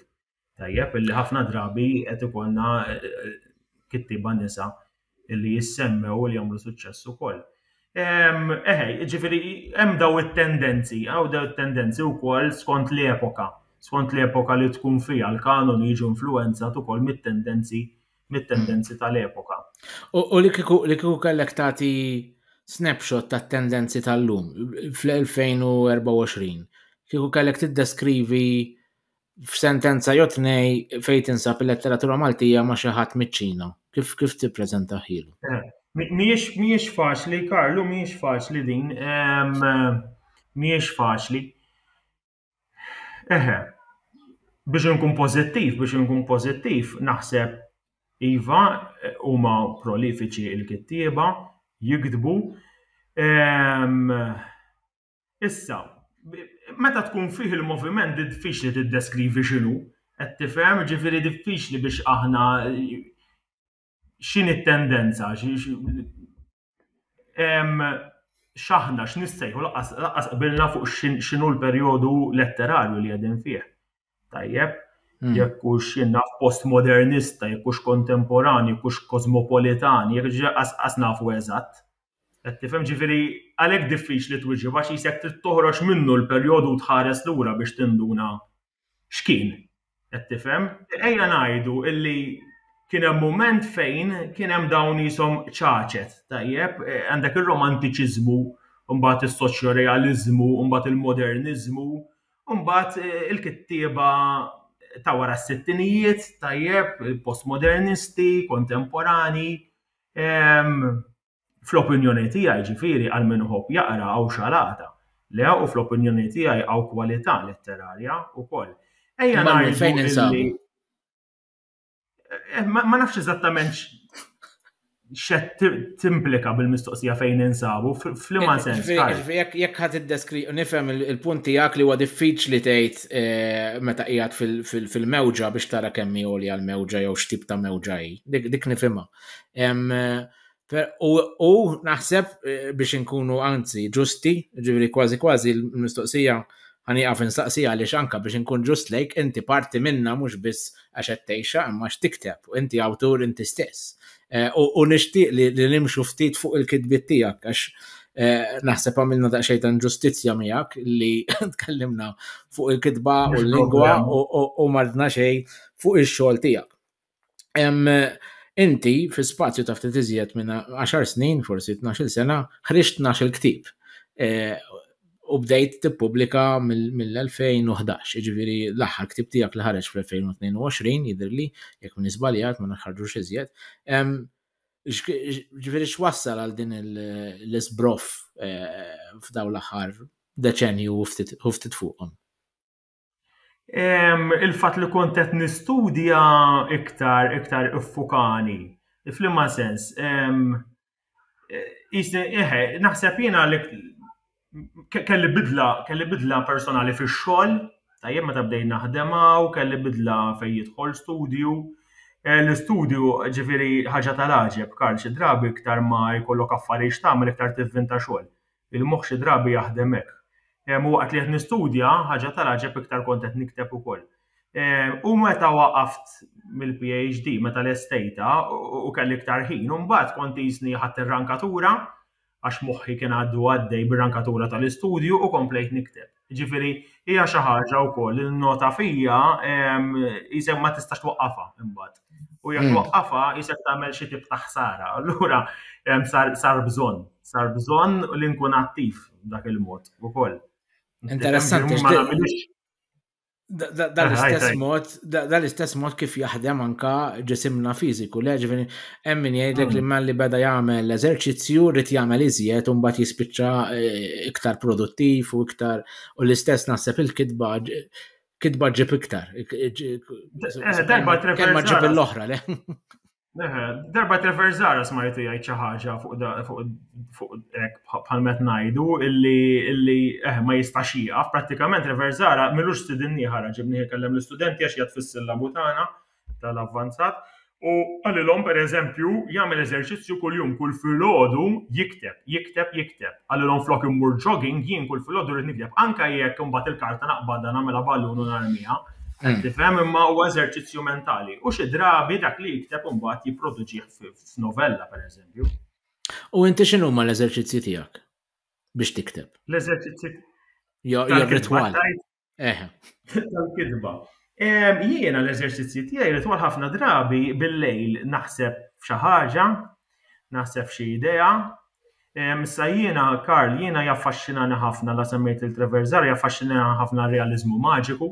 Tajjeb, illi ħafna drabi qed ikollna eh, kittiba nisa illi jissemmew u li jagħmlu suċċess ukoll. Ehm, eħe, ġifiri, hemm daw it-tendenzi, għaw daw it-tendenzi wkoll skont l-epoka, skont l-epoka li tkun fija l-kanon jiġu influenzat ukoll mit-tendenzi mit-tendenzi tal-epoka. U li kiku kellek tagħti snapshot tat-tendenzi tal-lum fl-2024, kiku kellek tiddeskrivi f'sentenza jew tnej fejn tinsab il-letteratura Maltija ma' xi ħadd miċ-Ċina. Kif kif tippreżentahielu? Eh, mhijiex mhijiex faċli, Karlu, mhijiex faċli din. Mhijiex faċli. Eħe, biex inkun pożittiv, biex inkun pożittiv, naħseb iva huma prolifiċi il-kittieba, jiktbu. Issa, meta tkun fih il-moviment diffiċli tiddeskrivi x'inhu, qed tifhem, ġifieri diffiċli biex aħna x'inhi t-tendenza, x'aħna x'nissejħu laqas qbilna fuq x'inhu l-perjodu letterarju li qegħdin fih. Tajjeb, hmm. jekk hux jinnaf postmodernista, jekk hux kontemporanju, jekk hux kosmopolitan, jekk ġaqas nafu eżatt. Qed tifhem? Ġifieri, għalhekk diffiċli twieġeb għax qisek trid toħroġ minnu l-perjodu u tħares lura biex tinduna x'kien. Qed tifhem? Ejja ngħidu illi kien hemm mument fejn kien hemm dawn qishom ċaċet, tajjeb? Għandek ir-romantiċiżmu, mbagħad is-soċjorealiżmu, mbagħad il-moderniżmu, u mbagħad il-kittieba ta' wara s-sittinijiet, tajjeb, postmodernisti, kontemporanji, Fl-opinjoni tiegħi, ġifieri, għal min iħobb jaqra hawn xalata. Le, u fl-opinjoni tiegħi hawn kwalità letterarja wkoll. Ejja Imma ngħidu fejn illi- insabu? Eh, Ma ma nafx eżattament x- xed ti- timplika bil-mistoqsija fejn insabu, f- f'liema sens. Ġifieri- Karl? ġifieri jekk- Jekk ħad iddeskri, nifhem il- il-punt tiegħek li huwa diffiċli tgħid test eh, meta qiegħed fil-mewġa biex tara kemm hi għolja l-mewġa jew x'tip ta' mewġa hi. Dik nifhimha. U naħseb eh, biex inkunu anzi ġusti, ġivri kważi kważi l-mistoqsija għani għaf nistaqsi għaliex anka biex inkun ġust lejk, inti parti minna mhux biss għax qed tgħixha imma x'tikteb, inti awtur inti stess. Eh, u nixtieq li nimxu ftit fuq il-kitbiet tiegħek għax eh, naħseb għamilna daqsxejn ta' ġustizzja miegħek li tkellimna fuq il-kitba u l-lingwa u mardna xejn fuq ix-xogħol tiegħek. Inti fi spazju ta' ftit iżjed minn 10 snin, forsi 12 sena, ħriġt 12 il-ktib. Eh, u bdejt tippubblika mill-2011, jiġifieri l-aħħar ktib tiegħek li ħareġ fl-2022 jidhirli, jekk minn żbaljat ma nħarġux iżjed. Ġifieri x'wassal għal din l-isbroff eh, f'daw l-aħħar deċenju u ftit fuqhom? il-fat li kont qed nistudja iktar iktar iffukani. Flimma sens, eħe, naħseb jiena li kelli bidla, kelli bidla personali fix-xogħol, tajjeb meta bdejt naħdem hawn, kelli bidla fejn jidħol studju. Eh, l-istudju ġifieri ħaġa tal-għaġeb, Karl, xi drabi iktar ma jkollok affarijiet tagħmel iktar tivvinta xogħol. Il-moħħ xi drabi jaħdem hekk. U waqt li qed nistudja, ħaġa tal-għaġeb iktar kont qed nikteb ukoll. U meta waqaft mill-PhD, meta lestejtha u kelli iktar ħin, u mbagħad kont qisni ħadt ir-rankatura, għax moħħi kien għadu għaddej bir-rankatura tal-istudju u komplejt nikteb. Jiġifieri hija xi ħaġa wkoll li nnota fija isek ma tistax twaqqafha imbagħad. U jekk hmm. twaqqafha isek tagħmel xi tip ta' ħsara. Allura sar bżonn, sar bżonn li nkun attiv dak il-mod ukoll. Interessanti. Dan l-istess mod, dan l-istess mod kif jaħdem anka ġisimna fiżiku, le ġifieri hemm min jgħidlek li mm. malli beda jagħmel eżerċizzju rrid jagħmel iżjed u mbagħad jispiċċa eh, iktar produttiv u iktar u l-istess naħseb il-kitba kitba ġib iktar. Eh, eh, kelma ġib l-oħra, le? Darba Treverzara smajtu jgħid xi ħaġa fuq bħal met ngħidu illi eh, ma jistax jieqaf, prattikament Treverzara milux sidinni ħara ġibni kellem l-istudenti għax jgħat fis-sillabu tagħna tal-avvanzat u għalilhom pereżempju jagħmel eżerċizzju kuljum kull filgħodu jikteb, jikteb, jikteb. Għalilhom flok immur jogging jien kull filgħodu rrid nikteb anke jekk imbagħad il-karta naqbadha nagħmilha ballun u narmiha. Qed tifhem? Imma huwa eżerċizzju mentali. U xi drabi dak li jikteb imbagħad jipproduċih f'novella, pereżempju. U inti x'inhuma l-eżerċizzji tiegħek biex tikteb? L-eżerċizzji Jo, jo, ritwal. Eħe. Tal-kidba. Jiena l-eżerċizzji tiegħi ritwal ħafna drabi bil-lejl naħseb xi ħaġa, naħseb xi idea, Issa jiena, Karl, jiena jaffaxxinani ħafna la semmejt il Treverzar, jaffaxxinani ħafna r-realiżmu maġiku,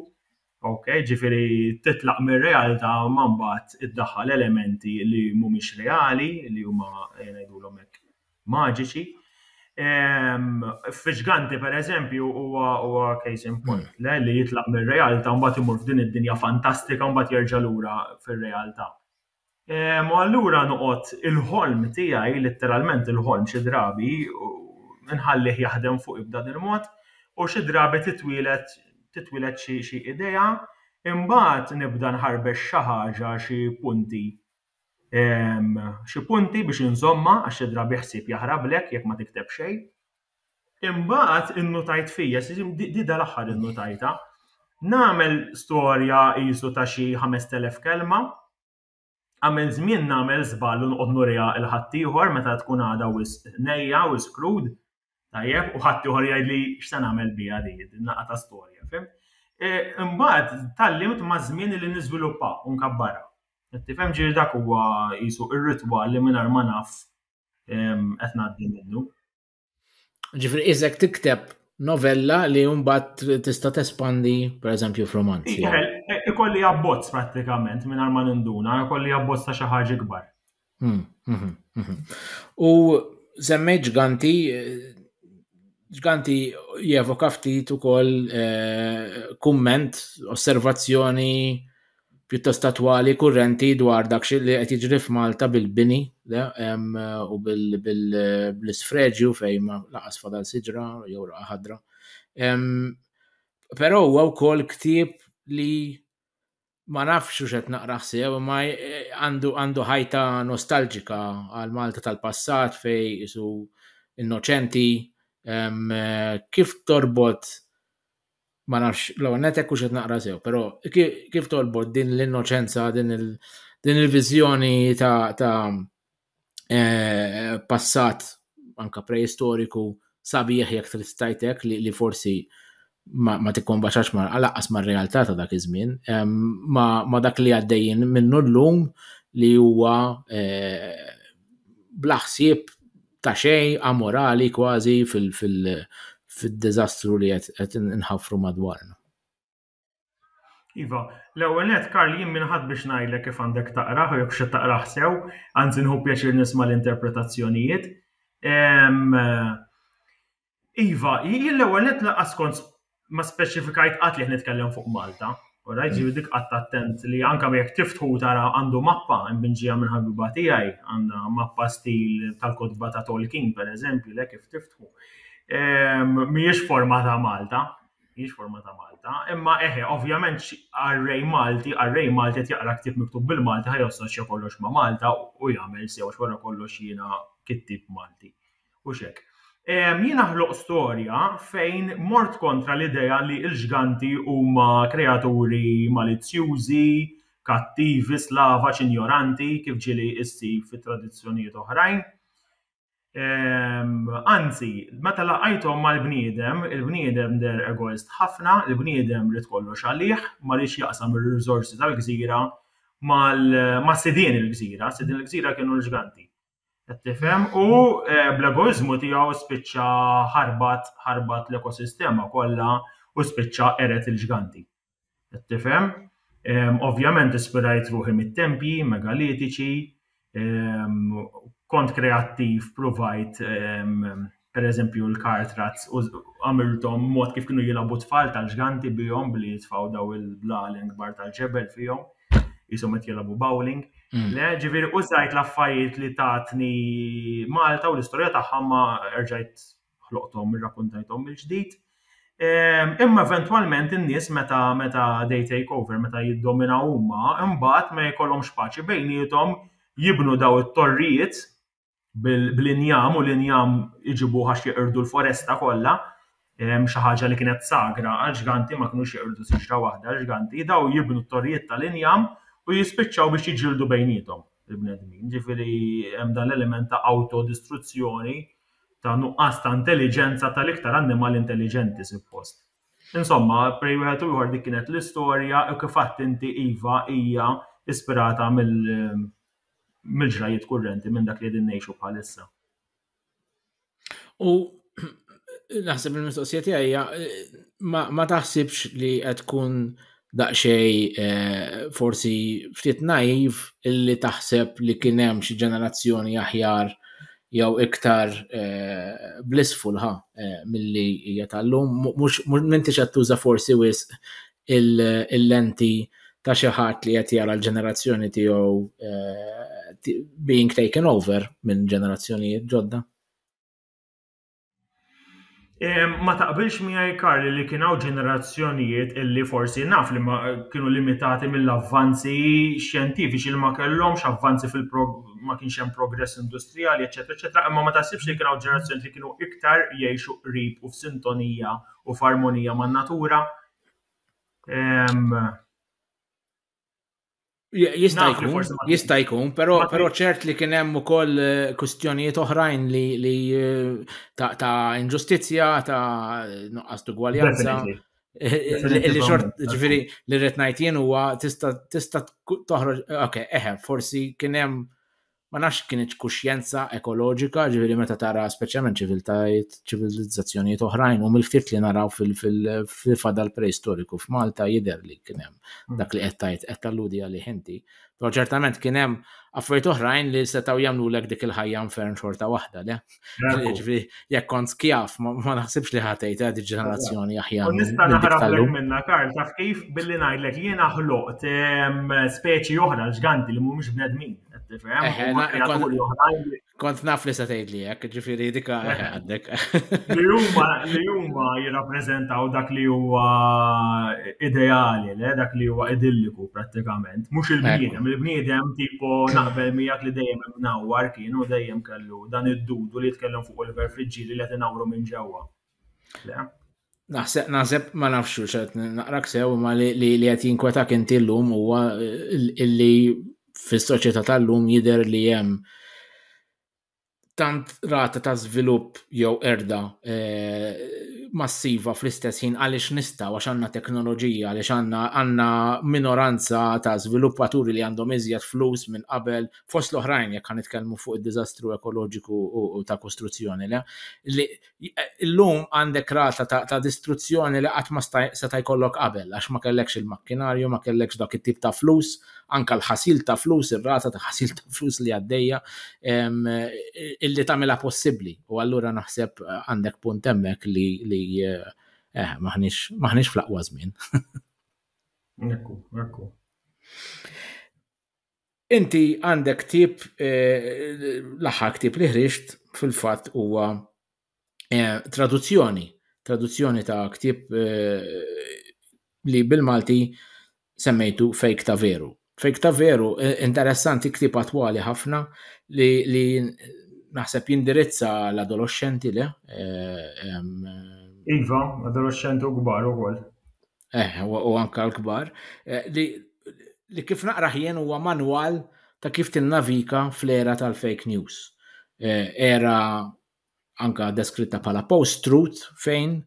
ok, ġifieri titlaq mir-realtà ma mbagħad iddaħħal elementi li mhumiex reali, li huma ngħidulhom hekk maġiċi. F'Ġganti pereżempju huwa case in point le li jitlaq mir-realtà mbagħad imur f'din id-dinja fantastika mbagħad jerġa' lura fir-realtà. U allura noqgħod il-ħolm tiegħi, litteralment il-ħolm xi drabi nħallih jaħdem fuqi b'dan il-mod u xi drabi titwieled titwieled xi xi idea, imbagħad nibda nħarbex xi ħaġa xi punti xi punti biex inżommha għax xi drabi ħsieb jaħrablek jekk ma tikteb xejn. Imbagħad innutajt fija, di dal-aħħar innutajtha, nagħmel storja qisu ta' xi ħamest elef kelma, għamilt żmien nagħmel żball u noqgħod nuriha 'l ħaddieħor meta tkun għadha wisq nejja, wisq krud, tajjeb, u ħaddieħor jgħidli x'se nagħmel biha di, din naqa' ta' storja, fhimt? Imbagħad tgħallimt maż-żmien li niżviluppha u nkabbarha. Qed tifhem? Ġifieri dak huwa qisu r-ritwal li mingħajr ma naf qed ngħaddi minnu. Ġifri, iżek tikteb novella li jumbat tista tespandi, per eżempju, f'roman. Ikolli abbozz pratikament minn arma ninduna, ikolli abbozz ta' xaħġa kbar. Hmm, mhm, mhm. U zemmej ġganti, ġganti jevoka ftit ukoll eh, kumment, osservazzjoni pjuttost attwali, kurrenti dwar dak li qed jiġri f'Malta bil-bini u bl-isfreġju fejn ma laqas fadal siġra jew raqa' ħadra. Però huwa wkoll ktieb li ma nafx hux qed naqra sew imma għandu ħajta nostalġika għal Malta tal-passat fejn qisu innoċenti. Kif torbot ma nafx, l-ewwel net hekk hux qed naqra sew, però kif tolbot din l-innoċenza, din il-viżjoni ta', ta eh, passat anka preistoriku sabiħ jekk trid tajtek li, li forsi ma, ma tikkombaċax ma laqqas ma' realtà ta' dak iż-żmien, ma, ma dak li għaddejjin minnu llum li huwa eh, blaħsib ta' xejn, amorali kważi fil-diżastru li qed inħaffru madwarna. Iva, l-ewwel nett Karl jien min ħadd biex ngħidlek kif għandek taqrah u jekk x'qed taqrah sew, anzi nieħu pjaċir nisma' l-interpretazzjonijiet. Iva, jien l-ewwel net laqas kont ma speċifikajt qatt li qed nitkellem fuq Malta. Alright, ġifieri dik qatt attent li anke jekk tiftħu tara għandu mappa imbinġija minn ħabiba tiegħi, għandha mappa stil tal-kotba ta' Tolkien pereżempju, le kif tiftħu. Ehm, mhijiex forma ta' Malta, mhijiex forma ta' Malta, imma eħe, ovvjament arrej Malti, arrej Malti qed jaqra ktieb miktub bil-Malti ħajossoċja kollox ma' Malta u jagħmel sew wara kollox jiena kittib Malti. Hux hekk. Jiena ħloqt storja fejn mort kontra l-idea li l-ġganti huma kreaturi malizzjużi, kattivi, slavaġ, injoranti, kif ġieli ssib fi tradizzjonijiet oħrajn. Anzi, meta laqajthom mal-bniedem, il-bniedem deher egoist ħafna, il-bniedem ried kollox għalih, ma riedx jaqsam ir-riżorsi tal-gżira ma' sidien il-gżira, sidien il-gżira kienu l-ġganti. Qed tifhem? U eh, bl-egoiżmu tiegħu spiċċa ħarbat ħarbat l-ekosistema kollha u spiċċa eret il-ġganti. Qed tifhem? Ehm, ovvjament ispirajt ruħi mit-tempji, megalitiċi, ehm, kont kreattiv, provajt ehm, per eżempju l-car trats u għamiltom mod kif kienu jilabu tfal tal-ġganti bihom billi jitfaw daw il-blalen kbar tal-ġebel fihom jisom qed jilabu bowling. Mm. Le, ġifieri użajt l-affarijiet li tatni Malta u l-istorja tagħha ma erġajt ħloqthom irrakkuntajthom mill-ġdid. Ehm, imma eventwalment in-nies meta meta they take over, meta jiddomina huma, imbagħad ma jkollhomx paċi bejnietom jibnu daw it-torrijiet bl-injam u l-injam iġibuh għax jeqirdu l-foresta kollha, xi ħaġa li kienet sagra għall-ġganti ma kinux jeqirdu siġra waħda l-ġganti, dawn jibnu t-torrijiet tal-injam u jispiċċaw biex jiġġieldu bejniethom il-bnedmin. Ġifieri hemm dan l-element ta' awtodistruzzjoni, ta' nuqqas ta' intelliġenza tal-iktar annimal intelliġenti suppost. Insomma, bej wieħed u ieħor dik kienet l-istorja u kif għedt inti iva hija ispirata mill mill-ġrajjiet kurrenti, minn dak li qegħdin ngħixu bħalissa. U naħseb li mistoqsija tiegħi hija ma taħsibx li qed tkun daqsxej eh, forsi ftit naiv illi taħseb li kien hemm xi ġenerazzjoni aħjar jew iktar eh, blissful ha eh, milli hija tal-lum mhux m'intix qed tuża forsi wisq il-lenti ta' xi ħadd li qed jara l-ġenerazzjoni tiegħu eh, being taken over minn ġenerazzjonijiet ġodda. Ma taqbilx miegħi Karli li kien hawn ġenerazzjonijiet illi forsi naf li ma kienu limitati mill-avvanzi xjentifiċi li ma kellhomx avvanzi fil ma kienx hemm progress industrijali, eċetera, eċetera, imma ma tasibx li kien hawn ġenerazzjonijiet li kienu iktar jgħixu qrib u f'sintonija u f'armonija man-natura. Jista' jkun, jista' jkun, però però ċert li kien hemm ukoll eh, kwistjonijiet oħrajn li li eh, ta', ta inġustizzja, ta' nuqqas ugwaljanza. Eh, li xort, ġifiri, li rrit najt jien huwa tista' toħroġ, ok, eħe, forsi kien hemm Ma nafx kienx kuxjenza ekoloġika, ġifieri meta tara speċjalment ċiviltajiet, ċivilizzazzjonijiet oħrajn u mill-ftit li naraw fil-fadal preistoriku f'Malta jidher li kien hemm hmm. dak li qed tgħid qed talludi għalih inti. Però ċertament kien hemm affarijiet oħrajn li setgħu jagħmlulek dik il-ħajja nfern xorta waħda, le? Ġifri, jekk kont skjaf, ma naħsibx li ħatejt għad ġenerazzjoni aħjar. Nista' naħrab minna Karl, taf kif billi ngħidlek jiena ħloqt ehm, speċi oħra l-ġganti li mhumiex bnedmin. Kont naf li se tgħid li hekk, ġifieri dika għandek. Li huma li huma jirrappreżentaw dak li huwa ideali, le dak li huwa idilliku prattikament, mhux il-bniedem, il-bniedem tipo naqbel miegħek li dejjem imnawwar kienu dejjem kellu fuq dan id-dudu li jitkellem fuq Oliver Friġġieli li qed inawru minn ġewwa. Le? Naħseb, naħseb ma nafx u xed naqrak sew ma li li qed jinkwetak inti llum huwa illi fis-soċjetà tal-lum jidher li hemm tant rata ta' żvilupp jew erda eh, massiva fl-istess ħin għaliex nistgħu għax għandna teknoloġija għaliex għandna għandna minoranza ta' żviluppaturi li għandhom iżjed flus minn qabel fost l-oħrajn jekk nitkellmu fuq id-diżastru ekoloġiku u ta' kostruzzjoni le, li llum għandek rata ta' distruzzjoni li qatt ma seta' jkollok qabel għax ma kellekx il-makkinarju, ma kellekx dak it-tip ta' flus, anka l-ħasil ta' flus, ir-rata ta' ħasil ta' flus li għaddejja illi tagħmilha possibbli. U allura naħseb għandek punt hemmhekk li li eh, maħniex fl-aqwa żmien. Ekku, ekku. Inti għandek ktieb, eh, l-aħħar ktieb li ħriġt fil-fatt huwa eh, traduzzjoni, traduzzjoni ta' ktieb eh, li bil-Malti semmejtu fejk ta' veru. Fejk ta' veru, interessanti ktieb attwali ħafna li, li naħseb jindirizza l-adolescenti le. Iva, adolescenti u kbar ukoll. Eh, u anka l-kbar, eh, li, li kif naqraħ jien huwa manwal ta' kif tinnavika fl-era tal-fake news. Eh, era anka deskritta bħala post-truth fejn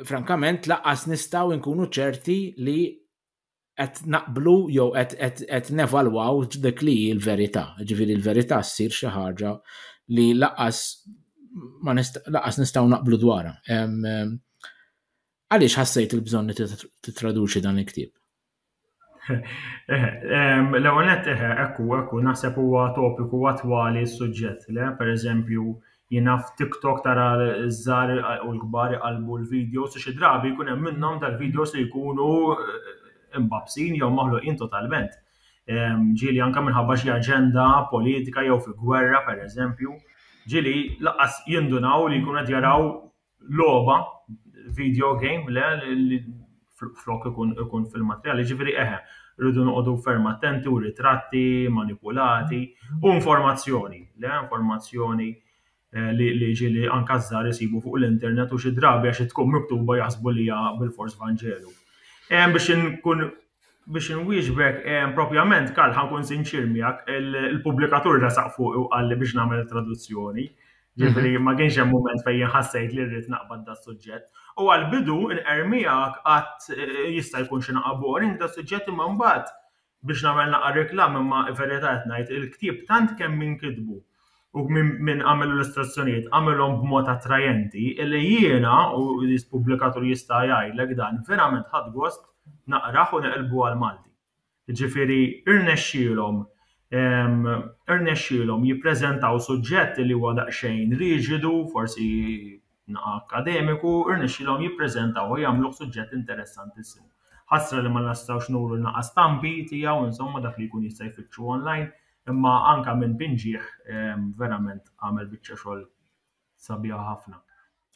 frankament laqqas nistaw inkunu ċerti li qed naqblu jew qed nevalwaw dik li l-verità. Ġifieri l-verità ssir xi ħaġa li laqas ma laqas nistgħu naqblu dwarha. Għaliex ħassejt il-bżonn li tittraduċi dan il-ktieb? L-ewwel nett eħe, ekku, ekku, naħseb huwa topiku attwali s-suġġett, le? Pereżempju, jiena f'TikTok tara ż-żgħar u l-kbar iqallbu l-videos u xi drabi jkun hemm minnhom tal-videos li jkunu imbabsin jew maħluqin totalment. Ġieli anke minħabba xi aġenda politika jew fi gwerra, pereżempju, ġieli lanqas jindunaw li jkunu qed jaraw logħba, video game, le, li flok ikun ikun fil-materjal, ġifieri eħe, rridu noqogħdu ferm attenti u ritratti manipulati u informazzjoni, le informazzjoni eh, li li ġili anka żgħar isibu fuq l-internet u xi drabi għax tkun miktuba jaħsbu li hija bil-fors Vanġelu. Hemm biex inkun Biex inwieġbek, propjament Karl, ħa nkun sinċier miegħek, il-pubblikatur resaq fuqi u qalli biex nagħmel traduzzjoni. Ġifieri ma kienx hemm mument fejn jien ħassejt li rrid naqbad das-suġġett. U għall-bidu nqer miegħek għadt jista' jkun xi naqa' boring das-suġġett imma mbagħad biex nagħmel naqa' reklam imma verità qed ngħid il-ktieb tant kemm inkitbu u min għamel illustrazzjonijiet għamilhom b'mod attrajenti illi jiena u l-pubblikatur jista' jgħidlek dan verament ħadt gost naqrah u neqilbu għall-Malti. Jiġifieri irnexxielhom irnexxielhom jippreżentaw suġġett li huwa daqsxejn riġidu, forsi naqa' akkademiku, irnexxielhom jippreżentawh u jagħmluh suġġett interessantissimu. Ħasra li ma nistgħux nuru naqa' stampi tiegħu, insomma, dak li jkun jista' jfittxu online, imma anke minn pinġieh verament għamel biċċa xogħol sabiħa ħafna.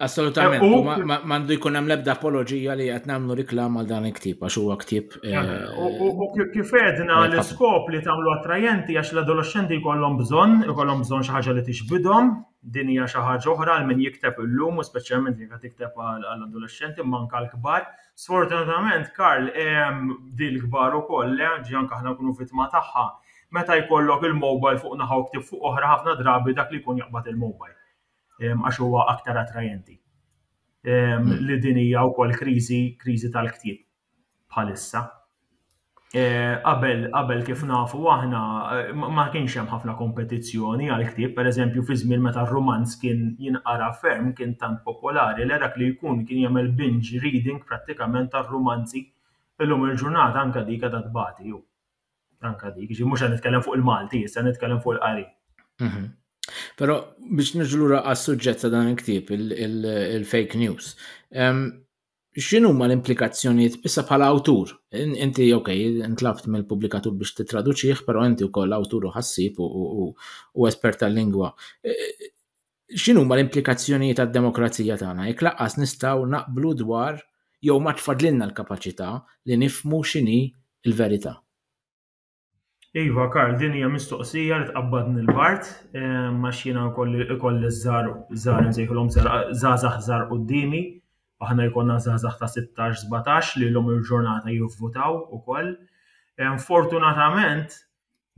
Assolutament, u m'għandu jkun hemm l-ebda apoloġija li qed nagħmlu riklam għal dan il-ktieb għax huwa ktieb. Eh, eh, u kif għedna eh, l-iskop li tagħmlu attrajenti għax l-adolescenti jkollhom bżonn, jkollhom bżonn xi ħaġa li tixbidhom, Din hija xi ħaġa oħra għal min jikteb illum u speċjalment jekk qed tikteb għal adolexxenti imma anke għal kbar. Sfortunatament, Karl, din il-kbar ukoll, le, anzi anke aħna nkunu vittma tagħha. Meta jkollok il-mobile fuq naħa u ktieb fuq oħra ħafna drabi dak li jkun jaqbad il-mobile għax huwa aktar attrajenti. Li din hija wkoll kriżi, kriżi tal-ktieb. bħalissa. Eh, qabel qabel kif nafu aħna eh, ma kienx hemm ħafna kompetizzjoni għal ktieb, pereżempju fi żmien meta r-romanz kien jinqara ferm kien tant popolari li dak li jkun kien jagħmel binge reading prattikament tar-romanzi illum il-ġurnata anke dik qed tbati ju. Anke dik, ġi mhux qed nitkellem fuq il-Malti, issa nitkellem fuq il-qari. Mhm. Però biex niġu lura għas-suġġett ta' dan il-ktieb, il-fake news. X'inhuma l-implikazzjonijiet issa bħala awtur? Inti ok, intlabt mill-pubblikatur biex titraduċih, però inti wkoll awtur u ħassib u espert tal-lingwa. E, x'inhuma l-implikazzjonijiet għad-demokrazija tagħna jekk laqqas nistgħu naqblu dwar jew ma tfadlilna l-kapaċità li nifmu x'inhi l-verità? Iva, Karl, din hija mistoqsija li tqabbadni l-bart, ma xina kolli ikolli żar, żar nsejħilhom żgħażagħ żar qudiemi, aħna jkollna żgħażagħ ta' 16-17 li l-lum il-ġurnata jivvutaw ukoll. Fortunatament,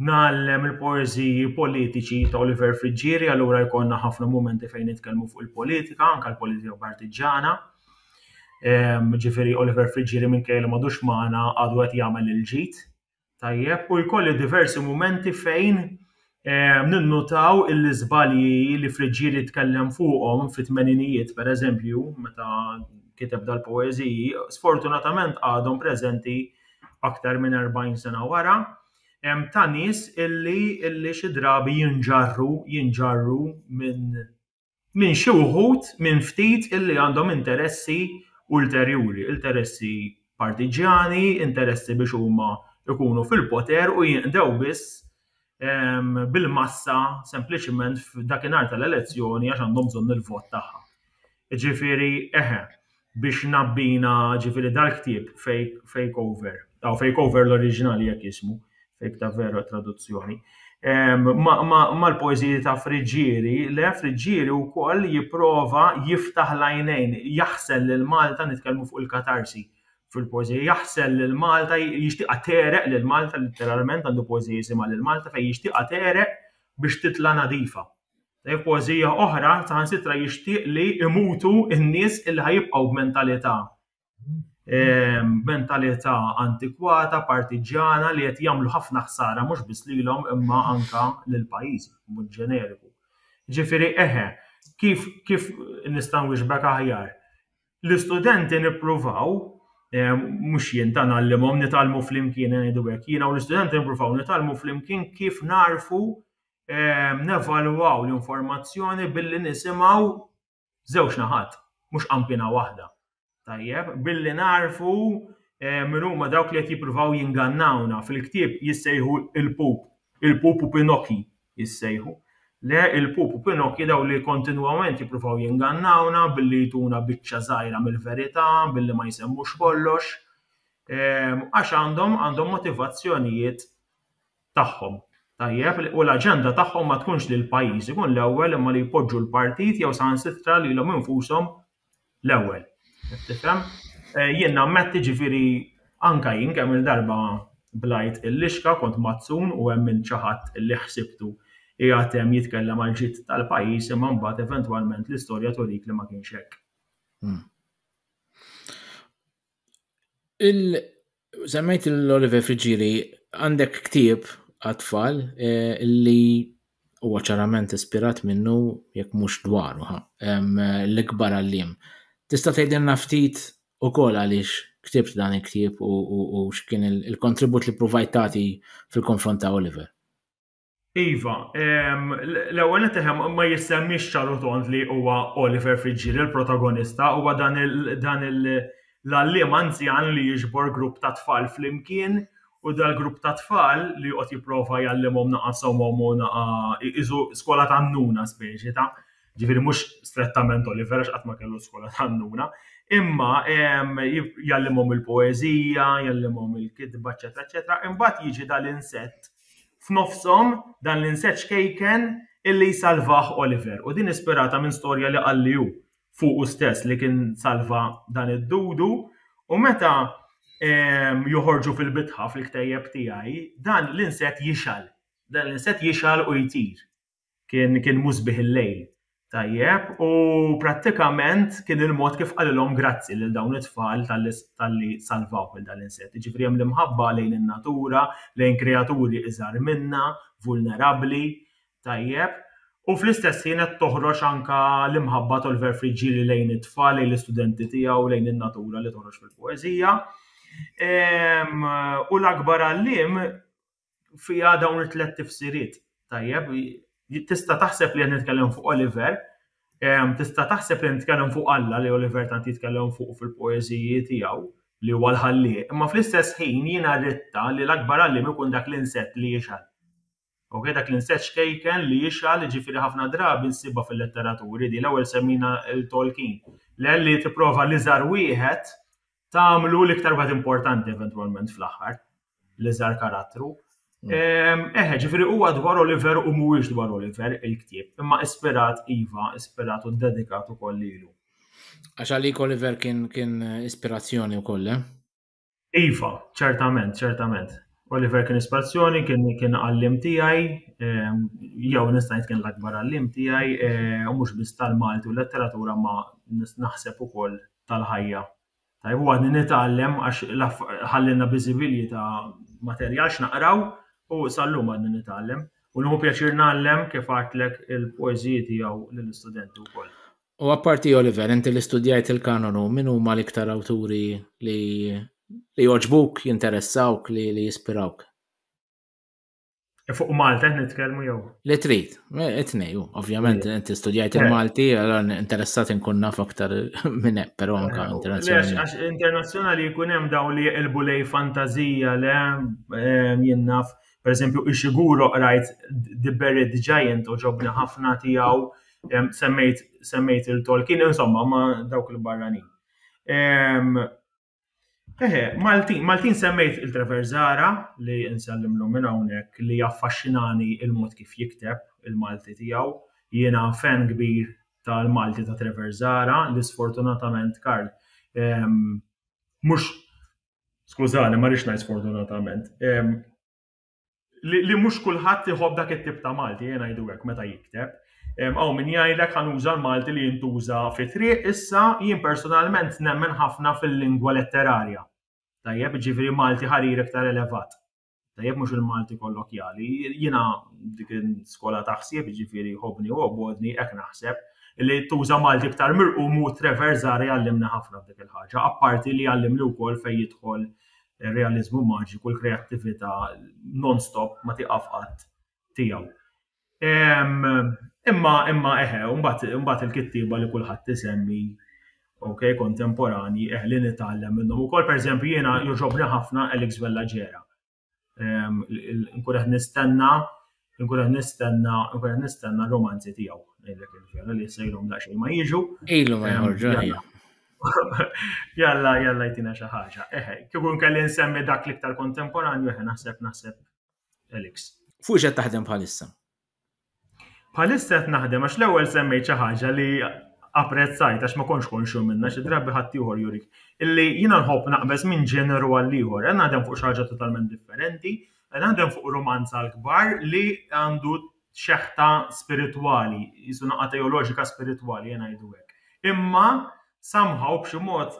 nagħllem il-poeżiji politiċi ta' Oliver Friggieri, allura jkollna ħafna momenti fejn nitkellmu fuq il-politika, anke l-politika partiġġana. Ġifieri Oliver Friggieri minkejja li m'għadux magħna għadu qed jagħmel il-ġid Tajjeb, u jkolli diversi mumenti fejn eh, ninnutaw il-izbalji li Friġġieri tkellem fuqhom fit-tmeninijiet, per eżempju, meta kiteb dal-poeziji, sfortunatament għadhom preżenti aktar minn 40 sena wara, em, ta' nies illi, illi xi drabi jinġarru, jinġarru minn minn xi wħud minn ftit illi għandhom interessi ulterjuri, interessi partiġġjani, interessi biex huma jkunu fil-poter u jinqdew biss bil-massa sempliċiment f'dakinhar tal-elezzjoni għax għandhom bżonn il-vot tagħha. Jiġifieri eħe, biex nabbina ġifiri dal-ktieb Fake Over, ta' Fake Over l-oriġinali jekk jismu, Fake ta' vera traduzzjoni, mal-poeziji ta' Friġġieri, le Friġġieri u koll jiprofa jiftaħ l-għajnejn, jaħsel l-Malta, nitkelmu fuq il-katarsi fil-poezija, jaħsel l-Malta, jishtiqa tereq l-Malta, literalment għandu poezija jisima l-Malta fejn jishtiqa tereq biex titla nadifa. Tgħid poeżija oħra, saħansitra jixtieq li imutu n-nies illi ħajibqgħu b'mentalità ehm, mentalità antikwata, partiġġjana li qed jagħmlu ħafna ħsara mhux biss lilhom imma anka lil pajjiż mod ġeneriku. Ġifieri eħe, kif kif nista' nwixbek aħjar? L-istudenti nippruvaw ehm, mhux jien ta' nagħallimhom nitalmu flimkien ngħidu hekk, jiena u l-istudenti nippruvaw nitalmu flimkien kif narfu ehm, nevalwaw l-informazzjoni billi nisimgħu żewġ naħat, mhux qampina waħda. Tajjeb, billi narfu eh, minn huma dawk li qed jippruvaw jingannawna fil-ktieb jissejħu il-pup, il-pup u Pinokki jissejħu. Le il-pup u Pinokki daw li kontinwament jippruvaw jingannawna billi jtuna biċċa żgħira mill-verità, billi ma jsemmux kollox, eh, għax għandhom għandhom motivazzjonijiet tagħhom. Tajjeb, u l-aġenda tagħhom ma tkunx li l-pajjiż ikun l-ewwel imma li jpoġġu l-partit jew saħansitra lilhom infushom l-ewwel. Tifhem? Eh, jien nammetti ġifieri anka jien kemm il-darba blajt il-lixka kont mazzun u hemm minn ċaħat li ħsibtu qiegħed hemm jitkellem għal ġid tal-pajjiż imma mbagħad eventwalment l-istorja turik li ma kienx hekk. Hmm. Il semmejt l-Oliver Friġġieri għandek ktieb għat-tfal eh, li huwa ċarament ispirat minnu jekk mhux dwaru ħa, em, l-ikbar għalliem. Tista' tgħidilna ftit ukoll għaliex ktibt dan il-ktieb u, u, u x'kien il- il-kontribut li provajt tagħti fil-konfront ta' Oliver? Iva, ehm, l-ewwel qed eħem ma jissemmix ċaru tont li huwa Oliver Fitzgerald il-protagonista, huwa dan l-għalliem anzjan li jiġbor grupp ta' tfal flimkien u dal-grupp ta' tfal li joqgħod jipprova jgħallimhom naqa' somhom u naqa' iżu skola ta' nuna speċi ta' ġifieri mhux strettament Oliver għax qatt ma kellu skola ta' nuna, imma ehm, jgħallimhom il-poeżija, jgħallimhom il-kitba, eċetera, eċetera, imbagħad jiġi dal-insett F'nofshom, dan l-insett xkejken illi jsalvah Oliver u din ispirata minn storja li qalli hu fuqu stess li kien salva dan id-dudu u meta joħorġu fil-bitħa fil-ktejjeb tiegħi dan l-insett jixgħel. Dan l-insett jixgħel u jtir. Kien kien musbih il-lejl. Tajjeb, u prattikament kien il-mod kif qalilhom grazzi lil dawn it-tfal tal-li salvaw minn dan l-insett. Ġifri hemm l-imħabba lejn in-natura, lejn kreaturi iżgħar minna, vulnerabbli, tajjeb, u fl-istess ħin qed toħroġ anka l-imħabba t'Oliver Friggieri lejn it-tfal, lejn l-istudenti tiegħu, lejn in-natura li toħroġ fil-poeżija. U l-akbar għalliem fiha dawn it-tlet tifsiriet. Tajjeb, tista' taħseb li qed nitkellem fuq Oliver, tista' taħseb li nitkellem fuq Alla li Oliver tant jitkellem fuq fil-poeżiji tiegħu li huwa l-ħallieq, imma fl-istess ħin jiena ritta li l-akbar għalliem ikun dak l-insett li jixgħal. Ok, dak l-insett xkejken li jixgħal, ġifieri ħafna drabi nsibha fil-letteraturi di l-ewwel semmina l-Tolkien. L-elli tipprova l-iżgħar wieħed tagħmlu l-iktar wieħed importanti eventwalment fl-aħħar. l-iżgħar karattru. Mm. Ehm, eħe, ġifiri huwa dwar Oliver u mhuwiex dwar Oliver il-ktieb, imma ispirat Iva, ispirat u dedikat ukoll lilu. Għax għalik Oliver kien kien ispirazzjoni wkoll, eh? Iva, ċertament, ċertament. Oliver kien ispirazzjoni, kien kien għallim tiegħi, ehm, jew nista' kien l-akbar għallim tiegħi, eh, u mhux biss tal-Malti u letteratura ma naħseb ukoll tal-ħajja Tajjeb u għadni nitgħallem għax ħallielna biżivilji ta' materjal x'naqraw u sal-lum għadni nitgħallem. U nieħu pjaċir ngħallem kif għidtlek il-poeżiji tiegħu lill-istudenti wkoll. U apparti Oliver, inti li studjajt il-kanonu, min huma l-iktar awturi li li jogħġbuk, jinteressawk, li, li jispirawk? E fuq Malta qed nitkellmu jew. Li trid, e, it-tnej, ovvjament inti studjajt il-Malti, allora interessat inkun naf aktar minn hekk, però anke internazzjonali. Għax internazzjonali jkun hemm daw li jqilbu lej fantażija le jien naf, pereżempju ix-xiguro qrajt The Buried Giant u ġobni ħafna tiegħu semmejt semmejt il-Tolkien, insomma ma dawk il-barranin. Eħe, Maltin, Maltin semmejt il-Trevor Zara li nsellim l minn hawnhekk li jaffaxxinani il-mod kif jikteb il-Malti tiegħu. Jiena fan kbir tal-Malti ta' Trevor Zara li sfortunatament Karl mhux skużani ma rridx ngħid sfortunatament. li mhux kulħadd iħobb dak it-tip ta' Malti, jien ngħidu hekk meta jikteb. Aw min jgħidlek ħanuża l-Malti li jintuża fi triq, issa jien personalment nemmen ħafna fil-lingwa letterarja. Tajjeb, ġifieri Malti ħarir iktar elevat. Tajjeb mhux il-Malti kollokjali, jiena dik skola ta' ħsieb ġifieri ħobni u obodni hekk naħseb li tuża Malti iktar mirqum u Trevor Zari għallimna ħafna f'dik il-ħaġa, apparti li għallimni wkoll fejn jidħol ir-realiżmu maġiku, l-kreattività non-stop ma tiqaf qatt tiegħu. Imma imma eħe, mbagħad il-kittieba li kulħadd isemmi ok, kontemporani, eh, li nitgħallem minnhom ukoll, pereżempju jiena joġobni ħafna Alex Vella Ġera. Nkun qed nistenna Nkun qed nistenna, nkun qed nistenna romanzi tiegħu ngħidlek il-vera li issa ilhom daqsxejn ma jiġu. Ilu ma jħorġu. Jalla, jalla jtina xi ħaġa. Eħe, kieku nkelli nsemmi dak l-iktar kontemporanju eħe naħseb naħseb Elix. Fuq xed taħdem bħalissa? Bħalissa qed naħdem għax l-ewwel semmejt xi ħaġa li apprezzajt għax ma konx konxu minna xi drabi ħadd ieħor jurik. Illi jiena nħobb naqbeż minn ġeneru għal ieħor, qed naħdem fuq xi ħaġa totalment differenti Naħdem fuq rumanz għall-kbar li għandu xeħta spiritwali, qisu naqgħa teoloġika spiritwali, ejja ngħidu hekk. Imma somehow b'xi mod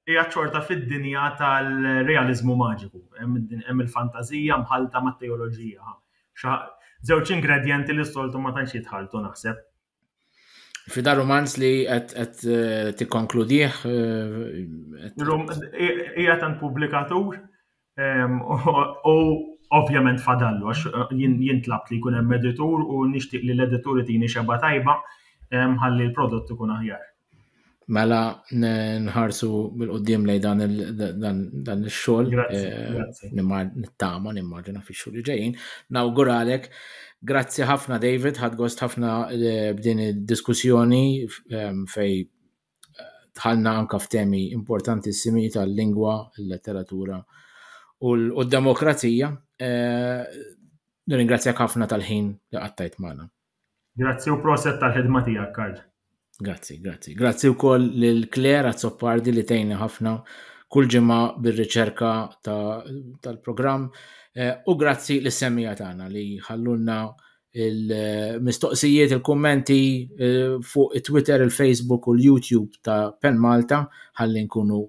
hija xorta fid-dinja tal-realiżmu maġiku. Hemm il-fantażija mħallta mat-teoloġija. Żewġ ingredjenti li s-soltu ma tantx jitħalltu naħseb. Fi dar romanz li qed tikkonkludih. Hija tant pubblikatur u ovvjament fadallu għax jien tlabt li jkun hemm editur u nixtieq li l-editur itini xeba tajba ħalli l-prodott ikun aħjar. Mela nħarsu bil-qoddim lej dan il-xol. Eh, nittama, nimmaġina fi xol li ġejjin. Nawguralek. Grazzi ħafna David, ħad gost ħafna eh, b'din id-diskussjoni ehm, fej eh, tħalna anka f'temi importanti simi tal-lingwa, il-letteratura u l-demokrazija. Nirringrazzjak ħafna tal-ħin li qattajt magħna. Grazzi u proset tal-ħidma tiegħek, Karl. Grazzi, grazzi. Grazzi wkoll lil Claire Azzopardi li tgħinni ħafna kull ġimgħa bir-riċerka tal-programm eh, u grazzi lis semija tagħna li ħallulna il-mistoqsijiet, il-kummenti eh, fuq it-Twitter, il-Facebook u l-YouTube ta' Pen Malta ħalli nkunu